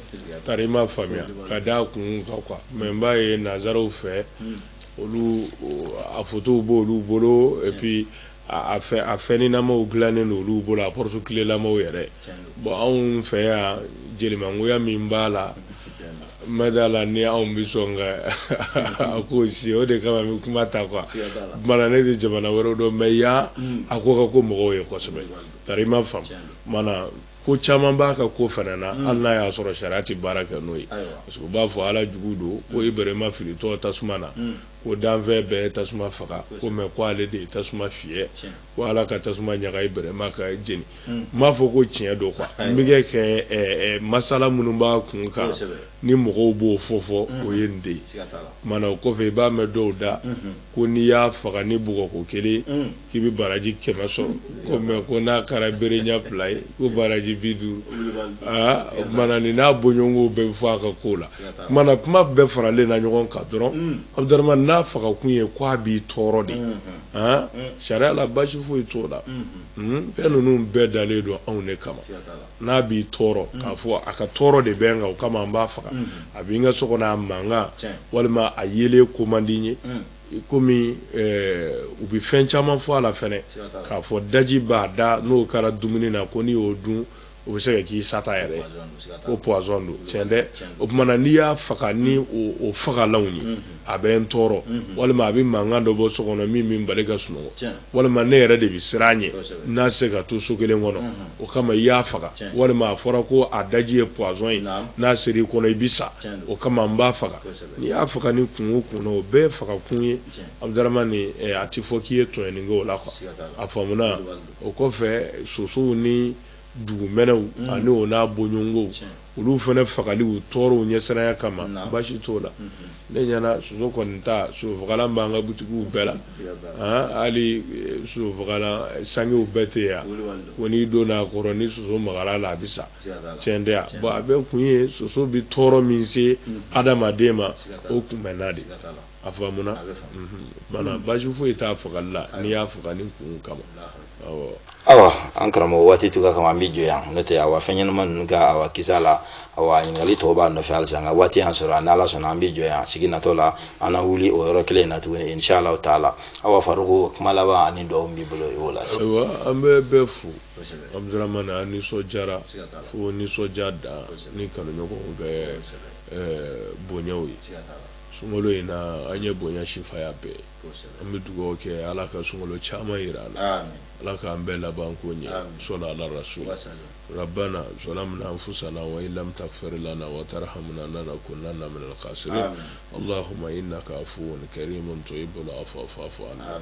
[SPEAKER 3] tari i m'a faamuya ka d'a kun kan quoi mais n b'a ye nansaraw fɛ olu a fotow b'olu bolo et puis a fɛnɲɛnamaw dilanen don olu bolo a porte-clélamaw yɛrɛ bɔn anw fɛ yan jelimangoya min b'a la Ma d'a la ni anw bɛ sɔn ka a ko si o de kama bɛ kuma ta quoi mana ne tɛ jamana wɛrɛ dɔn mais yan a ko ka go mɔgɔw ye kosɛbɛ tari i m'a faamuna ko caman b'a ka ko fana na hali n'a y'a sɔrɔ sariya tɛ baara kɛ n'o ye parce u b'a fɔ ala jugu don ko Iburahima filitɔ tasuma na ko danfɛn bɛɛ tasuma faga ko mais ko ale de ye tasuma fiyɛ ko ala ka tasuma ɲaga Iburahima ka jeni n m'a fɔ ko tiɲɛ don quoi n bɛ kɛ kɛ ɛ ɛ masala minnu b'a kun kan Kosɛbɛ. ni mɔgɔw b'o fɔ fɔ o ye nin de ye Siga t'a la. kumana o kɔfɛ i b'a mɛn dɔw da ko n'i y'a faga ni bugɔko kelen k'i bɛ baraji kɛmɛ sɔrɔ ko mais ko n'a kɛra bere ɲɛ fila ye ko baraji bi duuru aa o kumana nin n'a bɔɲɔgɔnko bɛɛ bɛ fɔ a ka ko la Siga t'a la. kumana kuma bɛɛ faralen na ɲɔgɔn kan dɔrɔn Abudaramani n'a fagakun ye ko a b'i tɔɔrɔ de aa sariya la baasi foyi t'o la Fɛn ninnu bɛɛ dalen don anw de kama n'a b'i tɔɔrɔ k'a fɔ a ka tɔɔrɔ de bɛ n kan o kama n b'a faga a bɛ n ka so kɔnɔ a mankan walima a yelen ko man di n ye komi u bɛ fɛn caman fɔ a la fana k'a fɔ daji b'a da n'o kɛra dumuni na ko n'i y'o dun o bɛ se ka k'i sata yɛrɛ ko pwazɔn don tiɲɛ dɛ o tuma na n'i y'a faga ni o fagalanw ye a bɛ n tɔɔrɔ walima a bɛ mankan dɔ bɔ so kɔnɔ min bɛ n bali ka sunɔgɔ walima ne yɛrɛ de bɛ siran a ɲɛ n'a se ka to so kelen kɔnɔ o kama i y'a faga walima a fɔra ko a daji ye pwazɔn ye n'a sera i kɔnɔ i bɛ sa o kama n b'a faga n'i y'a faga ni kun o kun o bɛɛ faga kun ye Abudaramani a tɛ fɔ k'i ye tɔɲɔni kɛ o la a faamuya o kɔfɛ sosow ni dugumɛnɛw mm. ani o n'a bɔɲɔgɔnkow olu fana fagali u tɔɔrɔw ɲɛsiranya kama basi t'o la mm-hmm. ne ɲɛna soso kɔni ta sosofagalan b'an ka butikiw bɛɛ la hali eh, sosofagalan sangew bɛɛ tɛ yan ko n'i donna a kɔrɔ ni soso magara la a bɛ sa tiɲɛ tɛ yan bon a bɛɛ kun ye soso bɛ tɔɔrɔ min se mm-hmm. adamaden ma o kunbɛnna de a faamuna mana basi foyi t'a fagali la n'i y'a faga ni kun kama
[SPEAKER 2] awa an karamɔgɔ waati tuga kama an bɛ jɔ yan n'o tɛ awa fɛn ɲɛnama ninnu ka awa kisa la awa ɲininkali tɔw b'a nɔfɛ halisa nka waati y'an sɔrɔ ni ala sɔnna an bɛ jɔ yan sigi natɔ la an na wuli o yɔrɔ kelen in na tuguni inshallah taala awa faruku kuma laban ani dugawu b'i bolo i b'o lase ayiwa an bɛ
[SPEAKER 3] bɛɛ fo abuduramani an nisɔndiyara fo nisɔndiya dan ni kanuɲɔgɔnw bɛɛ bonyaw ye sunkalo in na an ye bonya sifaya bɛɛ an bɛ dugawu kɛ ala ka sunkalo caman jira an na ala k'an bɛɛ labanko ɲɛ sɔli ala rasulu rabana zalamna anfusana wa in lam tagfir lana wa tarhamna lanakunanna minal kasirin alahuma inaka afuwun karimun tuhibul afuwa fafu ana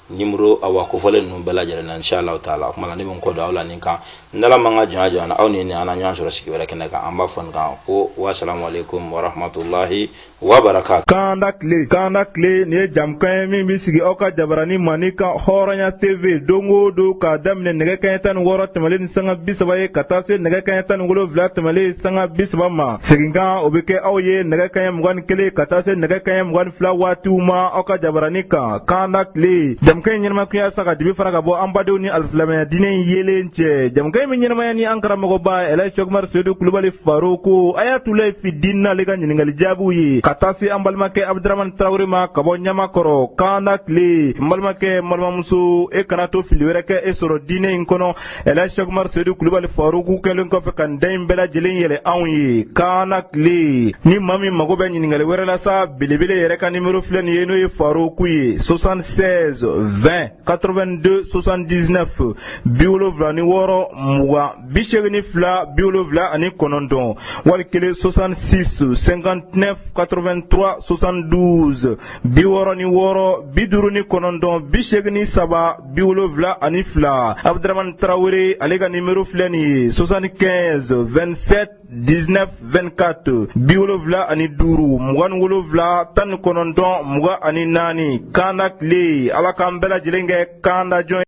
[SPEAKER 2] nimoro awa kofɔlen ninnu bɛɛ lajɛlen na inshallah taala o kuma na ne bɛ n kɔ don aw la nin kan n'ala m'an ka jɔnya jira an na aw ni ne an na ɲɔgɔn sɔrɔ sigi wɛrɛ kɛnɛ kan an b'a fɔ nin kan ko wasalamu aleykum warahmatulahi wabarakatu kanda tile
[SPEAKER 1] kanda tile nin ye jamukan ye min bɛ sigi aw ka jabarani mandi kan hɔrɔnya tv don o don k'a daminɛ nɛgɛ kanɲɛ tan ni wɔɔrɔ tɛmɛlen ni sanga bi saba ye ka taa se nɛgɛ kanɲɛ tan ni wolonwula tɛmɛlen sanga bi saba ma seginkan o bɛ kɛ aw ye nɛgɛ kanɲɛ mugan ni kelen ka taa se nɛgɛ kanɲɛ mugan ni fila waatiw ma aw ka jabarani kan kanda tile jamukan in ɲɛnamaya kun ye sa ka dibi fara ka bɔ an badenw ni alisilamɛya diinɛ in yeelen cɛ jamukan in bɛ ɲɛnamaya ni an karamɔgɔba ɛlaji sɛkumar sedu kulubali faruku ayatulahi fi diin n'ale ka ɲininkali jaabiw ye ka taa se an balimakɛ abuduramani tarawele ma ka bɔ ɲamakɔrɔ kanda tile n balimakɛ n balimamuso e kana to fili wɛrɛ k'e sɔrɔ diinɛ in kɔnɔ ɛlaji sɛkumar sedu kulubali faruku kɛlen kɔfɛ ka da in bɛɛ lajɛlen yɛlɛ anw ye kanda tile ni maa min mago bɛ ɲininkali wɛrɛ la sa belebele yɛrɛ ka nimero filɛ nin ye n'o ye faruku ye 76 20 82 79 bi wolonwula ni wɔɔrɔ mugan bi seegin ni fila bi wolonwula ani kɔnɔntɔn wali kelen 66 59 83 72 bi wɔɔrɔ ni wɔɔrɔ bi duuru ni kɔnɔntɔn bi seegin ni saba bi wolonwula ani fila abuduramani tarawele ale ka nimero filɛ nin ye soixante quinze vingt sept dix neuf vingt quatre bi wolonwula ani duuru mugan ni wolonwula tan ni kɔnɔntɔn mugan ani naani kanda tile ala k'an bɛɛ lajɛlen kɛ kandajɔn ye